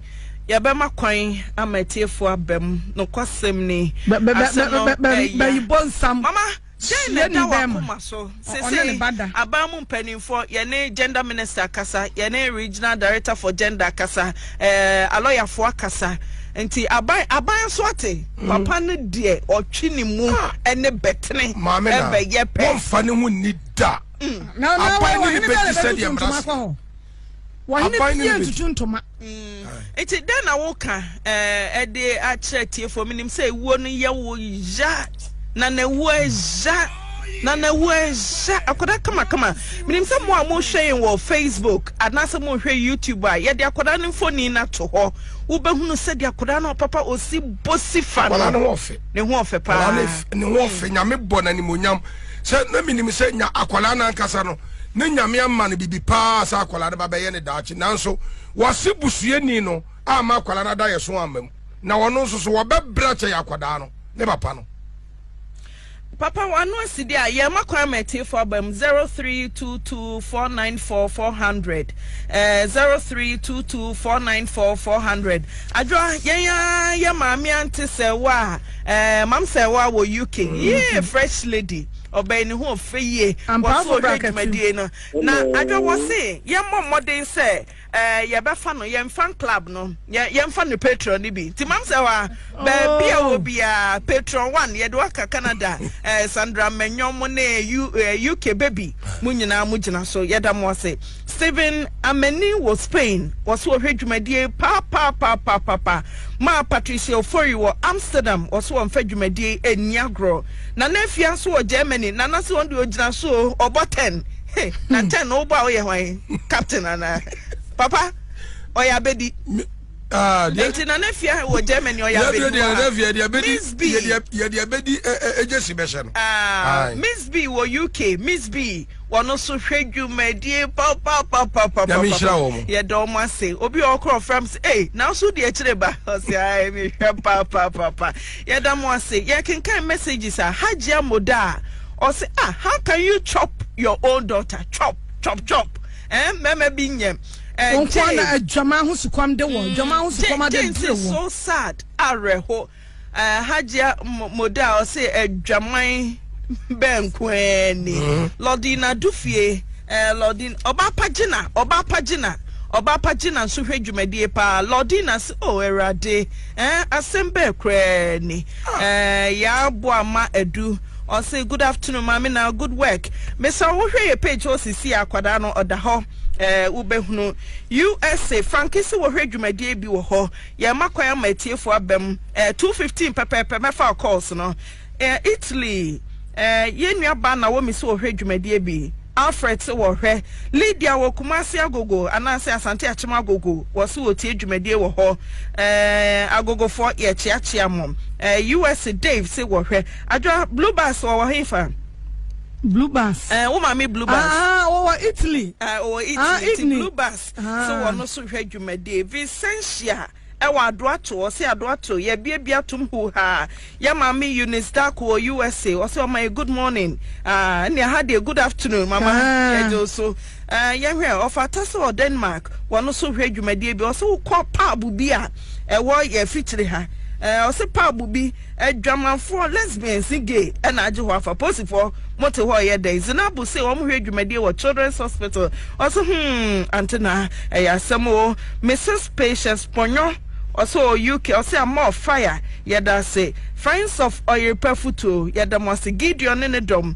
B: yɛbɛma kwan ama atiefoɔ aba mu. Nokwasɛm ni, ase no ɛya.
A: Bayi bonsam. Mama.
B: Dɛn na ɛda w'akoma so? Sesei aban mu mpanimfoɔ, yɛne gender minister akasa, yɛne regional director for gender akasa, ɛɛ eh, alɔyafoɔ akasa. Nti aban aban nso ate. Hmm. Papa no deɛ ɔtwe ne mu ah. ɛne bɛtene ɛbɛyɛ pɛ. Wɔmfa ne ho nni
E: da. Hmm. Aban
A: no ne bɛti sɛ deɛ mmara so. Wɔhene bi nni ntutu ntoma. Nti mm.
B: dɛn na woka eh, ɛde akyerɛ tiefo menim sɛ ewuo no yɛ wo ya na na ewuo ɛya na na ewuo ɛya akwadaa kamakama menim sɛ mo a mohwɛ yɛn wɔ facebook anaasɛ mohwɛ youtube a yɛde akwadaa no mfoni no ato hɔ wobɛhunu sɛdeɛ akwadaa no papa ɔsi bosi fa no ne ho ɔfɛ ne
E: ho ɔfɛ paa ne ho
B: ɔfɛ
E: nyame bɔ n'animonyam sɛ na menim sɛ nya akwadaa no ankasa no Ne Nyame ama no bibi paa a sɛ akwadaa no ba bɛyɛ ne daakye nanso wase busuani no amma akwadaa no adayɛso amma mu na wɔno nso so wɔbɛbra kyɛ yɛ akwadaa no ne papa no.
B: Papa wano asi deɛ a yɛma kwan ma atiefo aba mu 0322494400 eh, 0322494400 adwoa yɛn a yɛ maame ante sɛ wo a eh, mam sɛ wo a wɔ UK yee fresh lady Ɔbɛn ne ho ɔfɛ yie wɔ so ɔhwɛ dwumadie no na adwa wɔ se yɛmmɔ mmɔden sɛ ɛɛ yɛbɛfa no yɛn fan club no yɛ yɛmfa no patron no bi nti mam sɛ hɔ a baabi a wɔ biara patron one yɛde waka Canada ɛɛ Sandra Manyɔm ne U ɛɛ UK baby mo nyinaa mo gyina so yɛda mo ase. Steven Ameni wɔ Spain, wɔso ɔhwɛ dwumadie paapaapaapapa ma Patricia Ofori wɔ Amsterdam, wɔso ɔnfa dwumadie yi ɛnni agorɔ. Nana Afia nso wɔ Germany, Nana se wɔn deɛ ɔgyina so o, ɔbɔ 10. He, na 10 no wobɔ a woyɛ hwan? Captain anaa? Papa, ɔyɛ abɛdi. Ah, nti na ne fia wɔ germany ɔyɛ abɛdi wɔ ha miss b yɛde abɛdi
E: ɛgye si bɛhyɛ no ah, miss b
B: wɔ uk miss b wɔno so hwɛ dwumadie papapapapapapa
E: yɛda ɔmo ase obi
B: a ɔkorɔ fam sɛ ei nanso deɛ akyire ba ɔsɛ ae mehwɛ papapapa yɛda mo ase yɛkenkan messages a hagya moda a ɔsɛ ah how can you chop your own daughter chop chop chop eh mɛmɛ bi nyɛm Ɛ Wɔn nkoa na Jane.
A: adwaman ho sukɔm de wɔn, adwaman ho sukɔm Ja- James abɛduru is wɔn. so sad
B: awerɛho Eh, hajia Mo- moda a ɔse adwaman bɛnko ara ni lɔdina du fie eh, lɔdin ɔba pa gyina ɔba pa gyina ɔba pa gyina nso hwɛ dwumadie paa lɔdina se o awurade eh, asɛm bɛɛ koraa ni eh, yɛaboa ma adu ɔse good afternoon maame na good work mesa wohwɛ yɛ page hɔ sisi akwadaa no ɔda hɔ Ɛɛ, wobɛhunu. USA, Frankisi wɔ hwɛ dwumadie bi wɔ hɔ. Yɛrema kwan ama atiefoɔ aba mu. Ɛɛ, 2:15 pɛpɛɛpɛ mɛfa wo calls no. Ɛɛ, Italy, ɛɛ, yɛn nuabaa Naomi so wɔ hwɛ dwumadie bi. Alfred so wɔ hwɛ. Lydia wɔ Kumasi Agogo anaasɛ Asante Akyem Agogo, wɔso wɔtie dwumadie wɔ hɔ. Ɛɛ, Agogofoɔ, yɛkyeakyea mo. Ɛɛ, US, Dave se wɔ hwɛ. Adwoa, Blue Bus wɔ wɔ hefa? Blue
A: bus. Ɛɛ eh, wo maame blue bus. Ah,
B: wɔwɔ Italy.
A: Ɛɛ ah, wɔwɔ Italy. Ah, Italy.
B: Blue bus. Ah. So wɔn nso hwɛ dwumadie. Vicentia ɛwɔ adoato ɔsɛ adoato yɛbiabia atom hu ha yɛ maame Eunice Darko wɔ USA ɔsɛ ɔma yɛ good morning ɛnna ah, ha deɛ good afternoon mama yɛgye so. Eh, yɛnhwɛ ɛ, ɔfata sɛ wɔ Denmark wɔ no so hwɛ dwumadie bi, ɔse wo kɔ pub bi a ɛwɔ yɛ afikyire ha, eh, ɔse pub bi, adwamanfoɔ, lesbians ne gay ɛna agye hɔ afa, posifoɔ mo te hɔ ɔyɛ dɛn, Zinabu se wɔn hwɛ dwumadie wɔ children's hospital, ɔse hmm, Antenaa, ɛyɛ asɛm oo, Mrs Patience Pɔnyɔ, ɔse ɔwɔ UK, ɔse Amor Fire, yɛda ase, Friends of Oyeripa Futuo, yɛda mo ase, Gideon ne ne dɔm,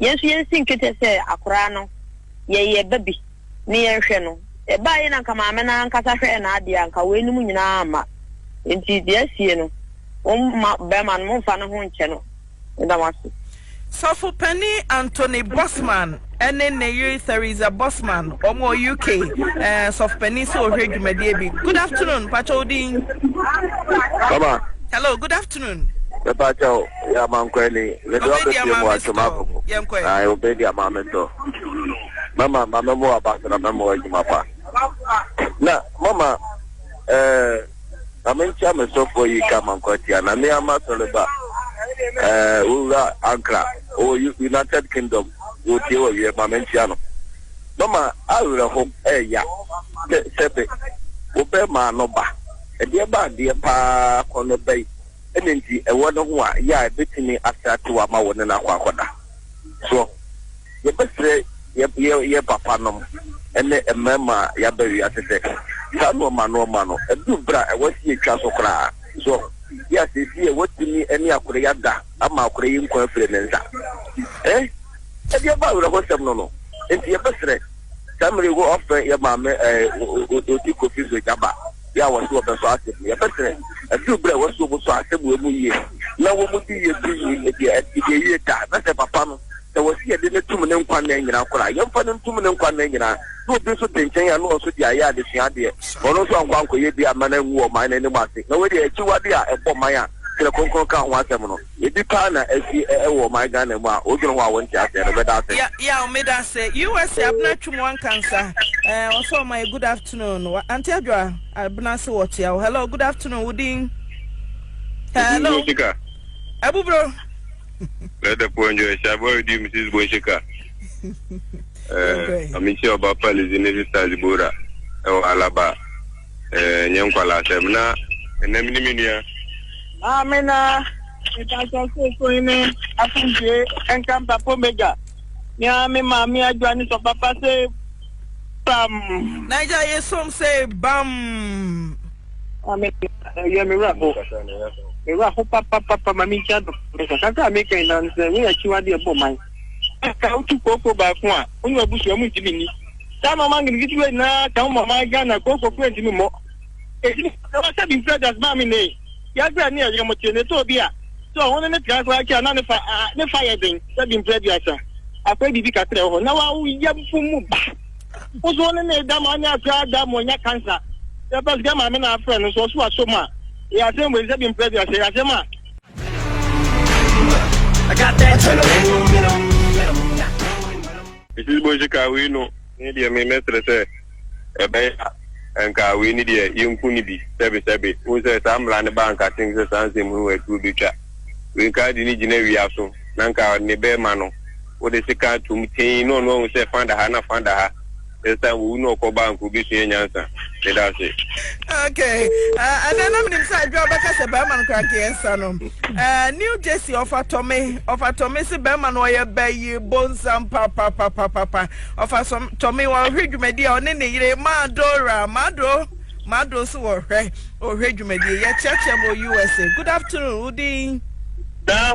G: Yɛn nso yɛnsi nketeɛ sɛ akoraa no yɛyɛ ba bi ne yɛnhwɛ no. Ɛbaa yei na anka maame no ara ankasa hwɛɛ n'adeɛ a anka weinom nyinaa amma. Enti deɛ asie no, momma barima no, momfa ne ho nkyɛ no. Meda mo ase. Sɔfo
B: Panin Anthony Bosman ne ne yere Theresa Bosman, wɔn wɔ UK. Ɛɛ, Sɔfo Panin sɛ ɔhwɛ dwumadie bi. Good afternoon, mpakyɛ wo din? Baba. Hello, good
I: afternoon.
B: afternoon. Mepakyɛw,
I: yɛ amankwa ni. Mede wo abɛpue mu atwe m'akoko. Ae, wobedi ama me tɔ. Mɛma, ma mɛma wo aba so na mɛma wo adwuma pa. Na, mama, eh, na menkyɛ me sɔfoɔ yi ka amankwa tia, na me ara m'asɔre ba, eh, wo wura Ankara, ɔwɔ United Kingdom, wɔretie wɔ wiɛ, ma menkyia no. Mama, awerɛho ɛɛya, sɛ, sɛbe, wobɛma no ba. Ɛdeɛ ba adeɛ pa ara kɔ no bɛ yi na nti ɛwɔ ne ho a yɛ a ɛbɛtumi asɛ atew ama wo ne no akɔ akɔda. Soɔ? Yɛbɛsrɛ yɛ yɛ yɛ papa nom ne mmarima a yɛaba wiase sɛ saa nnoɔma nnoɔma no ɛduru berɛ a ɛwɔ sɛ yɛtwa so koraa. Soɔ? Yɛ a seesei yɛ woatumi ne akorɛ yi ada ama akorɛ yi nkwa afiri ne nsa. Ɛh? Ɛdeɛ ba awerɛhosɛm no no nti yɛbɛsrɛ. Sɛ mere wo ɔfɛ yɛ maame ɛɛ Odi Kofi so gyaba yɛ a wɔse wɔbɛsɔ ase mu yɛpɛ sɛ ɛduru berɛ a wɔse wɔbɛsɔ ase mu ɛmu yie na wɔmudi yie di yie ɛdeɛ ɛdeɛ yie da na sɛ papa no sɛ wɔse yɛde no tum ne nkwa nna nyinaa koraa a yɛmfa no ntum ne nkwa nna nyinaa na obi nso te nkyɛn a na ɔnso de ayɛ adesua adeɛ ɔno nso ankɔ ankɔyɛ bi amma no angu ɔman no anim ase na wei deɛ akyiwadeɛ a ɛbɔ man a Twerɛ Kronkron ka ho asɛm no. Biribi paa na asi wɔ ɔman Ghana mu a wodwene ho a wonte aseɛ no, meda ase. Ya yaw meda
B: ase usa abena twum wanka nsa eh ɔsɔ ɔma yɛ good afternoon wa ante adwoa abena se wɔ tia wo hello good afternoon wo din hello Bonshika. abuburo Let the
J: poor enjoy. Shabo Edi, Mrs. Bonshika. Eh, Amici Oba Palizi, Mrs. Tazibora. Ewa Alaba. Eh, nyɛ nkwalaa asɛm na ɛnɛ me ne me nua. Ah, me na
D: mekasa sɛ koi ne asomdwe ɛnka mpapo mega. Mea me maame adwa ne sɔ papa sɛ bam. Naija ye
B: som sɛ bam. Ame
D: ɛyɛ me werɛ ho. Me werɛ ho papapapa ma me nkyia dɔ. Mekasa kra meka yi na sɛ woyɛ akyiwade ɛbɔ man. Ɛka wotu kooko baako a, wo ne wabusua mu ntimi nni. saa na ɔma nketenkete wei nyinaa ka ho ma ɔman Ghana kooko kura ntumi mmɔ. Enti me sɛ wɔsɛ bi mfiri adas maa me nne yi, yɛabrɛ ne yɛyere mo te ne tɔɔ bi a sɛ ɔho ne ne tra koraa kyɛ a na ne fa a ne fa yɛ den sɛ bi mfiri aduasa akɔɛ biribi kakra wɔ hɔ na wawo yɛmfo mu ba. Wo so ne ne da ma ɔne akora da ma ɔnya kansa. Sɛ pɛ sika maame na afrɛ no so ɔso aso mu a yɛ asɛm wei sɛ bi mfiri aduasa yɛ asɛm a I
J: got that. Mrs Boshi kaa wei no, me deɛ me mɛsrɛ sɛ ɛbɛyɛ a anka wei no deɛ yɛnku no bi sɛbe sɛbe, wohu sɛ saa mmara no baa anka I think sɛ saa nsɛm hunu wɔ atuo bɛtwa wei nka ade no gyina wia so na anka ne bɛɛma no wode seka atom tee na ɔno ahu sɛ fa da ha na fa da ha sɛ saa wɔwu na ɔkɔ ba anka obɛsua nyansa meda ase. Okay,
B: uh, and then I'm in inside job, I said, Bama, cranky, and son. Ɛɛ New Jersey ɔfa tɔme ɔfa tɔme se bɛrima no ɔyɛ bɛyi bonsam papapapapapa ɔfa sɔm tɔme wɔhwɛ dwumadi a ɔne ne yere Madora Mado Mado nso wɔhwɛ ɔhwɛ dwumadi yɛ kyerɛkyerɛ mo USA good afternoon wodin. Daa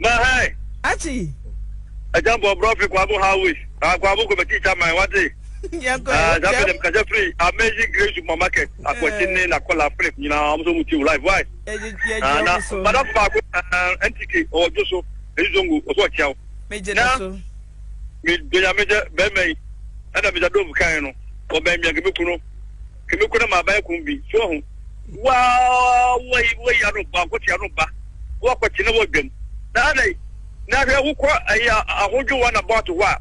J: na hɛn. Akyi.
B: Ɛgya
J: bɔ brɔfi kwabo Howie na kwabo kɔ bɛ teacher man wate.
B: Yɛn kɔ yɛ kyɛm. Ɛɛ sɛ firi
J: amazing grace supermarket akɔkye ne na kɔla Philip nyinaa wɔn nso wɔn ti live why. Ah, na madam baako ah, ntiki ɔwɔ dwo so ɛyi zongo ɔsɔ ɔkyia wo. Megye ne
B: so.
J: Me donya megye bɛrima yi ɛna megya dove kan no ɔbɛn mia kemeko no kemeko na maa bɛyɛ kun bi so ho. Waa wɔyi wɔyi ano ba ɔkɔkye ano ba wɔkɔkye na wɔdwam na adai na hwɛ wokɔ ɛyɛ ahodwo wɔn abɔ ato hɔ a.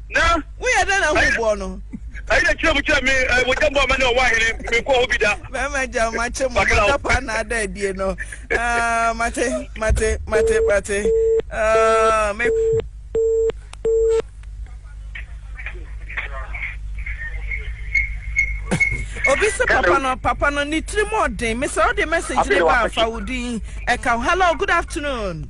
B: na. Woyɛ dɛn na hu boɔ no? Ayi
J: na kyerɛ mu kyerɛ me eh, mo gyambɔ ama ne ɔwɔ ahene menkɔ hɔ bi da. Mɛma gya mo akye mo
B: Bakra o. madapa na ada adie no. Ah, mate, mate, mate, mate. Ah, me. Obi sɛ papa no, papa no ne tirim ɔden. Mesɛ wode message ne ba afa wo din ɛka ho. Hello, good afternoon.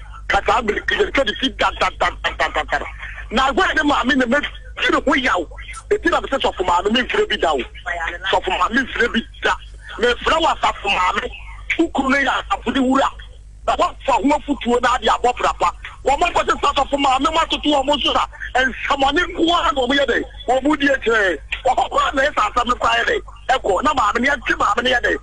J: ka saa bere ti yɛn twɛde si dadadadadadadar na agua ne maame na ma ti ne ho yaw eti na mese sɔfo maame me mfrɛ bi da o sɔfo maame mfrɛ bi da mefrɛ wɔ asafo maame wo kuru no yɛ asafo ne wura na wɔfa ho afutuo na ade abɔ brapa wɔn akɔ se sasɔfo maame mo atoto wɔn nso na nsɛmɔne nkoa na wɔn yɛ dɛ wɔn mu die kyerɛ wɔkɔkɔ na ɛsɛ asɛm no kɔ ayɛ dɛ ɛkɔ na maame ne ɛte maame ne yɛ dɛ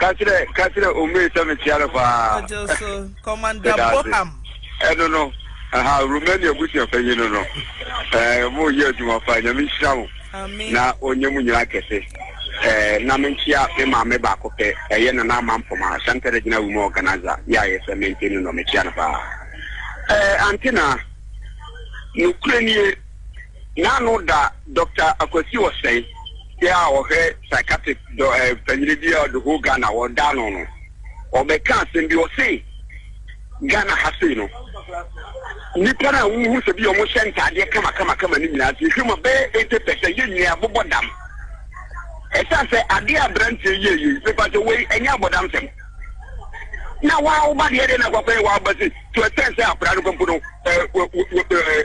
J: Ka kyerɛ ka kyerɛ Omei sɛ mekyia no paa. Ɔgye
B: so. Commander Meda ase. Boham. Ɛno no,
J: aha, Romania abusua panyin no no. Ɛɛ, moreyɛ adwuma paa. Nyame nhyira mo Amen. na ɔnyɛ mo nyinaa kɛse. Ɛɛ, na menkyia me maame baako pɛ, ɛyɛ Nana Ama Mpoma, Santa Regina Women Organizer, yɛ a yɛfrɛ me Ante Nuno, mekyia no paa. Ɛɛ, Ante Naa, nokorɛ nie, N'ano da Dɔkta Akwasi Ɔsɛe bi a ɔhwɛ psychiatric dɔ eh, panyin bi a ɔde whole Ghana wɔda ano no. Ɔbɛka asɛm bi ɔse Ghana ha sei no nnipa no a wohu sɛ bi a wɔhyɛ ntaadeɛ kamakamakama no nyinaa sɛ yɛhwɛ mu a bɛyɛ 80 pɛsɛ yɛ nyinaa bobɔ dam. Ɛsiane sɛ adeɛ a aberanteɛ yɛ yei mepa sɛ wei ɛnyɛ abɔdam sɛm na waa woba deɛ deɛ na akwakwa yɛ waa ba se to ɛsɛn sɛ akwadaa no kɔmpo no eh, wɔ- wɔ- wɔ- eh,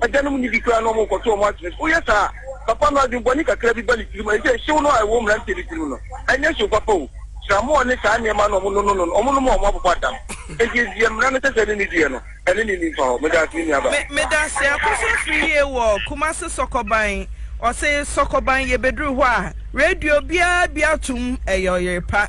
J: Agyanom nni bi koraa na wɔrekɔto wɔn akyene so. Woyɛ saa a, papa no adwene bɔne kakra bi ba ne tirim. Ɛne sɛ, hyew no a ɛwɔ mmeranteɛ no tirim no, ɛnyɛ hyew papa o. Kyerɛmɔɔ ne saa nneɛma no a wɔnono no no, wɔnom a wɔabobɔ adam. Enti deɛ mmara no sɛ sɛ ɛne no diiɛ no, ɛne no nni mfa hɔ. Meda ase, me nuabaa. Me meda ase. Akɔso afiri yie wɔ Kumasi Sɔkɔban. Ɔse Sɔkɔban yɛbɛduru hɔ a, radio biara bi atom, ɛyɛ ɔyere pa.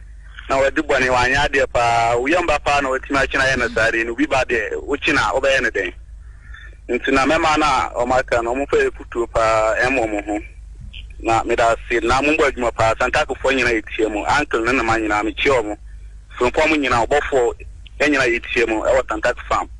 J: na wadi bɔne, wanyɛ adeɛ paa, wo yam ba paa na watumi akye no ayɛ no saa deɛ, na obi ba deɛ, wokye no a, wobɛyɛ no dɛn? Nti na mɛma no a wɔn aka no, wɔmfa afutuo paa ɛmmɔ mo ho. Na meda ase, na mommɔ adwuma paa, Santakefoɔ nyina yɛtia mu, Uncle ne ne ma nyina, mekyia wɔn, Frimpong nyina, ɔbɔfoɔ, yɛn nyina yɛtia mu wɔ Santake farm.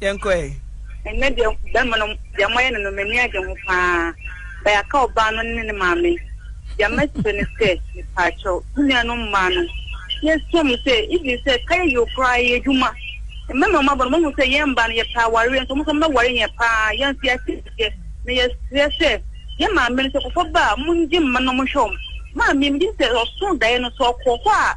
G: yɛnkɔ ɛ.
B: ɛnɛ deɛ
G: bɛrima no deɛ moayɛ no no m'ani agye ho paa bayaka ɔbaa no ne ne maame deɛ mɛkyerɛ no sɛ mepaakyɛw wo nua no mmaa no yɛsua mu sɛ even sɛ kayɛ yɛ koraa yɛ adwuma mmɛma ɔma bɔ no mahu sɛ yɛn mba no yɛpɛ awareɛ nso ɔmo sɛ mɛware yɛn paa yɛn nso yɛateteɛ na yɛsrɛ sɛ yɛ maame no sɛ kɔfɔ ba a mongye mma no mo hwɛ ɔm maame megye sɛ ɔso daeɛ no sɛ ɔkɔ hɔ a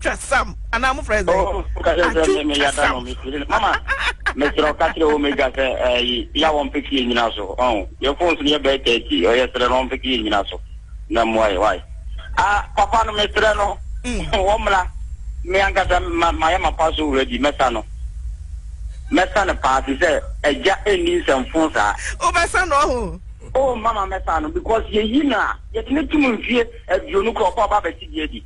B: Twa sam anaa mo frɛ sɛn? Oh, ka kyerɛ sɛ Atwu me me twa yada sam. no me firi
I: no. Mama, mesrɛ wo ka kyerɛ Omega sɛ ɛyi ya wɔn pɛ fie nyina so. Ɔn, yɛ phones no yɛ bɛyɛ thirty. Ɔyɛ srɛ no wɔn pɛ fie nyina so. Na mmoa yɛ why? Ah, papa no mesrɛ no wɔmmra. Me ankasa ma mayɛ m'apa so already. Mɛsa no. Mɛsa no paa te sɛ agya nni nsɛmfo saa. Wobɛsa no
B: ɔho? Oh, mama mɛsa
I: no because yɛyi no a yɛde no tom mfie. aduonu koraa ɔpɛ ɔba bɛte deɛ bi.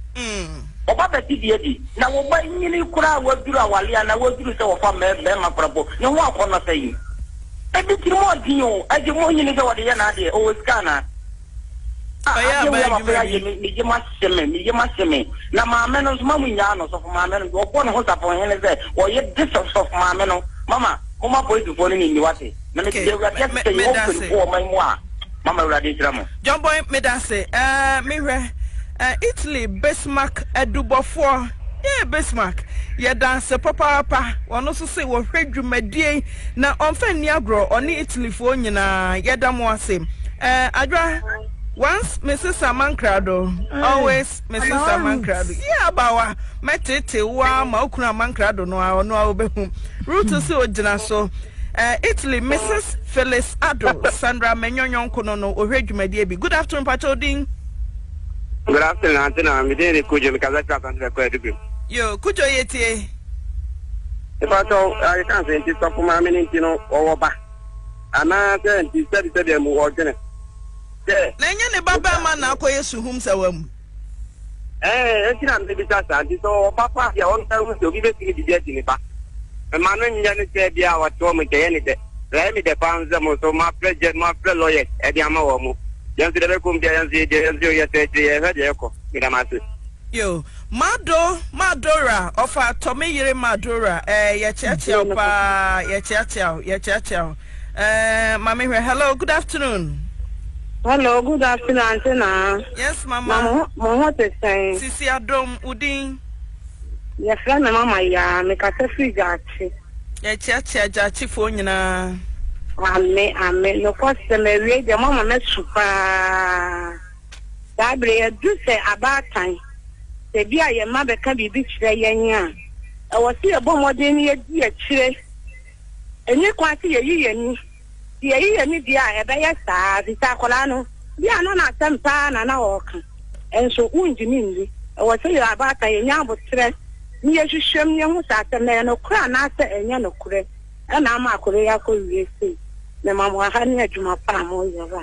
I: Ɔba bɛte deɛ bi, na wo ba nyini koraa a waduru awale anaa waduru sɛ wɔfa mmarima koraa mpo, ne ho akɔ no sɛn? Ebi tirim ɔden o, agye mu nyini sɛ wɔde yɛ n'adeɛ, ɔwɔ sika anaa? Ah, Ɔyɛ adeɛ wei aban a wafra adwuma bi. yɛ me, me yam ahye me, me yam ahye me. Na maame no nso, ma mo nnyaa no, sɔfo maame no, ɔbɔ ne ho safohene sɛ ɔyɛ de sɛ sɔfo maame no. Mama, momma polisifoɔ no ne nni, wate? Na mede deɛ Awurade ase sɛ yɛwɔ mpanimfoɔ wɔ ɔman mu a, mama
B: Awurade nhyira mo. John Boy, meda ase. Ɛɛ, mehwɛ ɛɛ Italy Bismarck adubɔfoɔ. Yee, Bismarck, yɛda ase papaapa. Ɔno nso se wɔhwɛ dwumadie yi na ɔmfa nni agorɔ, ɔne Italyfoɔ nyinaa. Yɛda mo ase. Ɛɛ, Adwoa, once me se Samankrado, always. Mrs. Amankrado, Yɛ abawa, mɛteetee wo ara ma okunu Amankrado no ara, ɔno ara obehu. Ruth hmm. se ogyina so. Eh, Italy, Mrs. Phyllis Ado, Sandra Menyo nyɔnko no no, ohwɛ dwumadie bi. Good afternoon, Pacho Odin.
K: Good afternoon, Auntie na me din ne Kujo, me kasa kira Asante Bɛkɔ Adubim. Yo, Kujo yɛ
B: tie.
K: Pacho, ayɛ kan sɛ nti sɔfo maame ne nti no ɔwɔ ba. Anaasɛ nti sɛbi sɛbi amu ɔdwene. sɛ. Na
B: ɛnyɛ ne ba barima na akɔyɛ suhumsawa mu. Ɛɛ,
K: enti na mebisa saa. Nti sɛ ɔwɔ ba paa deɛ, ɔnsan hu sɛ obi bɛtumi biribi agye ne ba. Mma no nyɛ no sɛ bi a ɔte wɔn nkyɛn yɛ ne dɛ. Na ɛyɛ me dɛ paa nso sɛ mo nso moafrɛ gyɛ, moafrɛ lawyers de ama wɔn. Yɛn nso deɛ ɛbɛkɔ mu biara, yɛn nso yɛdeɛ, yɛn nso yɛyɛ sɛ akyire yɛhwɛ deɛ ɛkɔ. Meda mo ase. Yo,
B: Mado, Madora, ɔfa tɔ me yere Madora, ɛɛ, yɛkyeakyea wo paa, yɛkyeakyea wo, yɛkyeakyea wo. Eh, ma me hwɛ. Hello, good afternoon. Hello,
G: good afternoon, Auntie Na. Yes, Mama. Na
B: mo ho te sɛn?
G: Sisi Adom,
B: udin.
G: Yɛfrɛ me Mama Yaa, mekasa firi Gyaakye. Yɛkyeakyea
B: Gyaakyefoɔ nyinaa. Ame,
G: ame. Nokɔ sɛ mawie deɛ mama masu paa. Saa berɛ yɛadu sɛ abaatan. Sɛ bi a yɛn mma bɛka biribi kyerɛ yɛn a, ɛwɔ sɛ yɛbɔ mmɔden no yɛdi akyire. Enye kwan se yeyi yɛn ani. Se yeyi yɛn ani deɛ a, ɛbɛyɛ saa, efisɛ akwadaa no, bi a na n'asɛm paa na na ɔreka. Nso, wongye no nni. Ɛwɔ sɛ yɛn abaatan, yenya aboterɛ na yɛhwehwɛ mu na yɛahu sɛ asɛm no ɛyɛ nokorɛ anaasɛ ɛnyɛ nokorɛ. Ɛna ama akwadaa yi akɔwie sei. Mema mo aha ne adwuma pa a moreyɛ. Ra.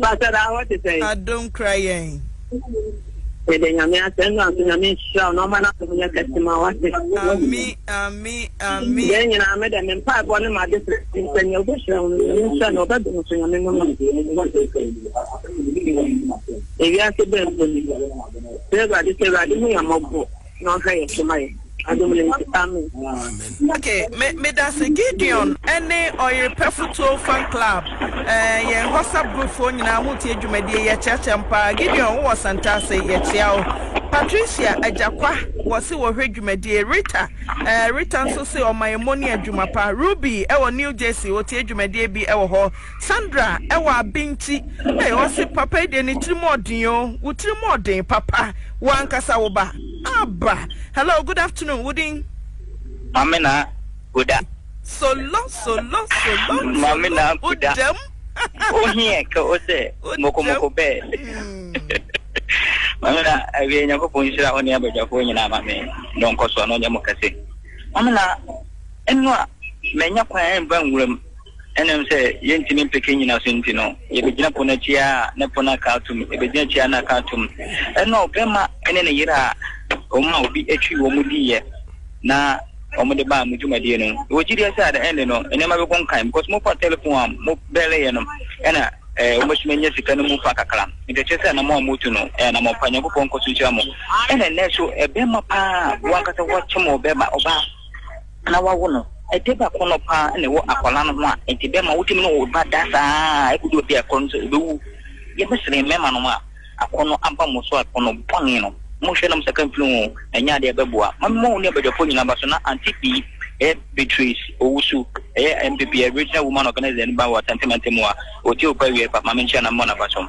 D: Pastor da hɔ te
B: sɛn?
D: Adom kura yɛn. Yɛde
G: nyame asɛ no aso nyame nhyira na ɔma n'asɛm yɛ kɛse ma wate. Ami
B: ami ami.
G: Yɛn nyinaa me dɛ me mpa ɛbɔ ne ma de sɛ sɛ nea ɔbɛhyira wo no nyame nhyira na ɔbɛdo no so nyame mu no. Ewiase bɛn mpo ni. Sɛ Awurade sɛ Awurade hu yɛn mmɔbɔ. na
B: ɔnka yɛn so ma yɛn. Adom ne nti, amen. Okay, me medase Gideon ne Ɔyerepɛfo Tuo Fan Club, eh, yɛn WhatsApp group foɔ nyinaa mo tie dwumadie yɛ kyea kyea mpaa. Gideon wowɔ Santase yɛ kyea wo. Patricia Ajakwa wɔ se wɔ hwɛ dwumadie. Rita, eh, Rita nso se ɔma yɛ moni adwuma pa. Ruby ɛwɔ New Jersey wɔ tie dwumadie bi ɛwɔ hɔ. Sandra wɔ abenti ei ɔse papa yi deɛ ne tiri mu ɔden oo wo tiri mu ɔden papa wo ankasa wo ba aba hello good afternoon wo din. Mame na
L: kuda. Solo
B: solo solo
L: Mame na solo kuda. odam Wo heɛ ka o sɛ moko odam moko bɛɛ. Mame na awie Nyankopɔn nhyira wo ne abadwafoɔ nyinaa ma me no nkɔsoɔ no nyɛ mo kɛse. Mame na ɛno a manya kwan ɛmba nwura mu. Ɛnam sɛ yɛntumi mpeke nnyinaso nti no, yɛbɛgyina pono akyi ara a ne pono aka atom, yɛbɛgyina akyi ara na aka atom. Ɛnna ɔbarima ne ne yere a wɔn a obi twi wɔn diiɛ na wɔde baa mo dwumadie no, wɔ gyidie sɛ at the end no, nneɛma bɛkɔ nkan because mofaa telephone a mobɛleeɛ no, ɛnna eh, wɔbɛtumi anya sika no mu fa kakra. Nti ɛkyerɛ sɛ anamɔ a motu no, ɛyɛ anamɔ pa. Nyankopɔn nkɔ so nhyira mo. Ɛnna ɛnnɛ nso, ɛbɛrima paa wankasa wakyem ɔbɛrima ɔbaa. na wawo no. Ɛde ba kɔn no paa na ɛwɔ akwadaa no ho a nti bɛma wotumi ne wo ba da saa ara ɛkɔdu obi a kɔn no sɛ ɔbɛwu. Yɛbɛsrɛ mmarima nom a akɔn no aba mo so a kɔn no bɔne no mo hwɛ na mo saka mfiri ho ɛnyɛ adeɛ ɛbɛboa. Mami mo ne abadwafoɔ nyinaa ba so na Auntie Bee ɛyɛ Beatrice Owusu ɛyɛ MPP a Regional Woman Organizer no ba wɔ Asante Mantam mu a ɔtie wo paa wie pa. Mami nkyɛn na memmɔ n'aba so.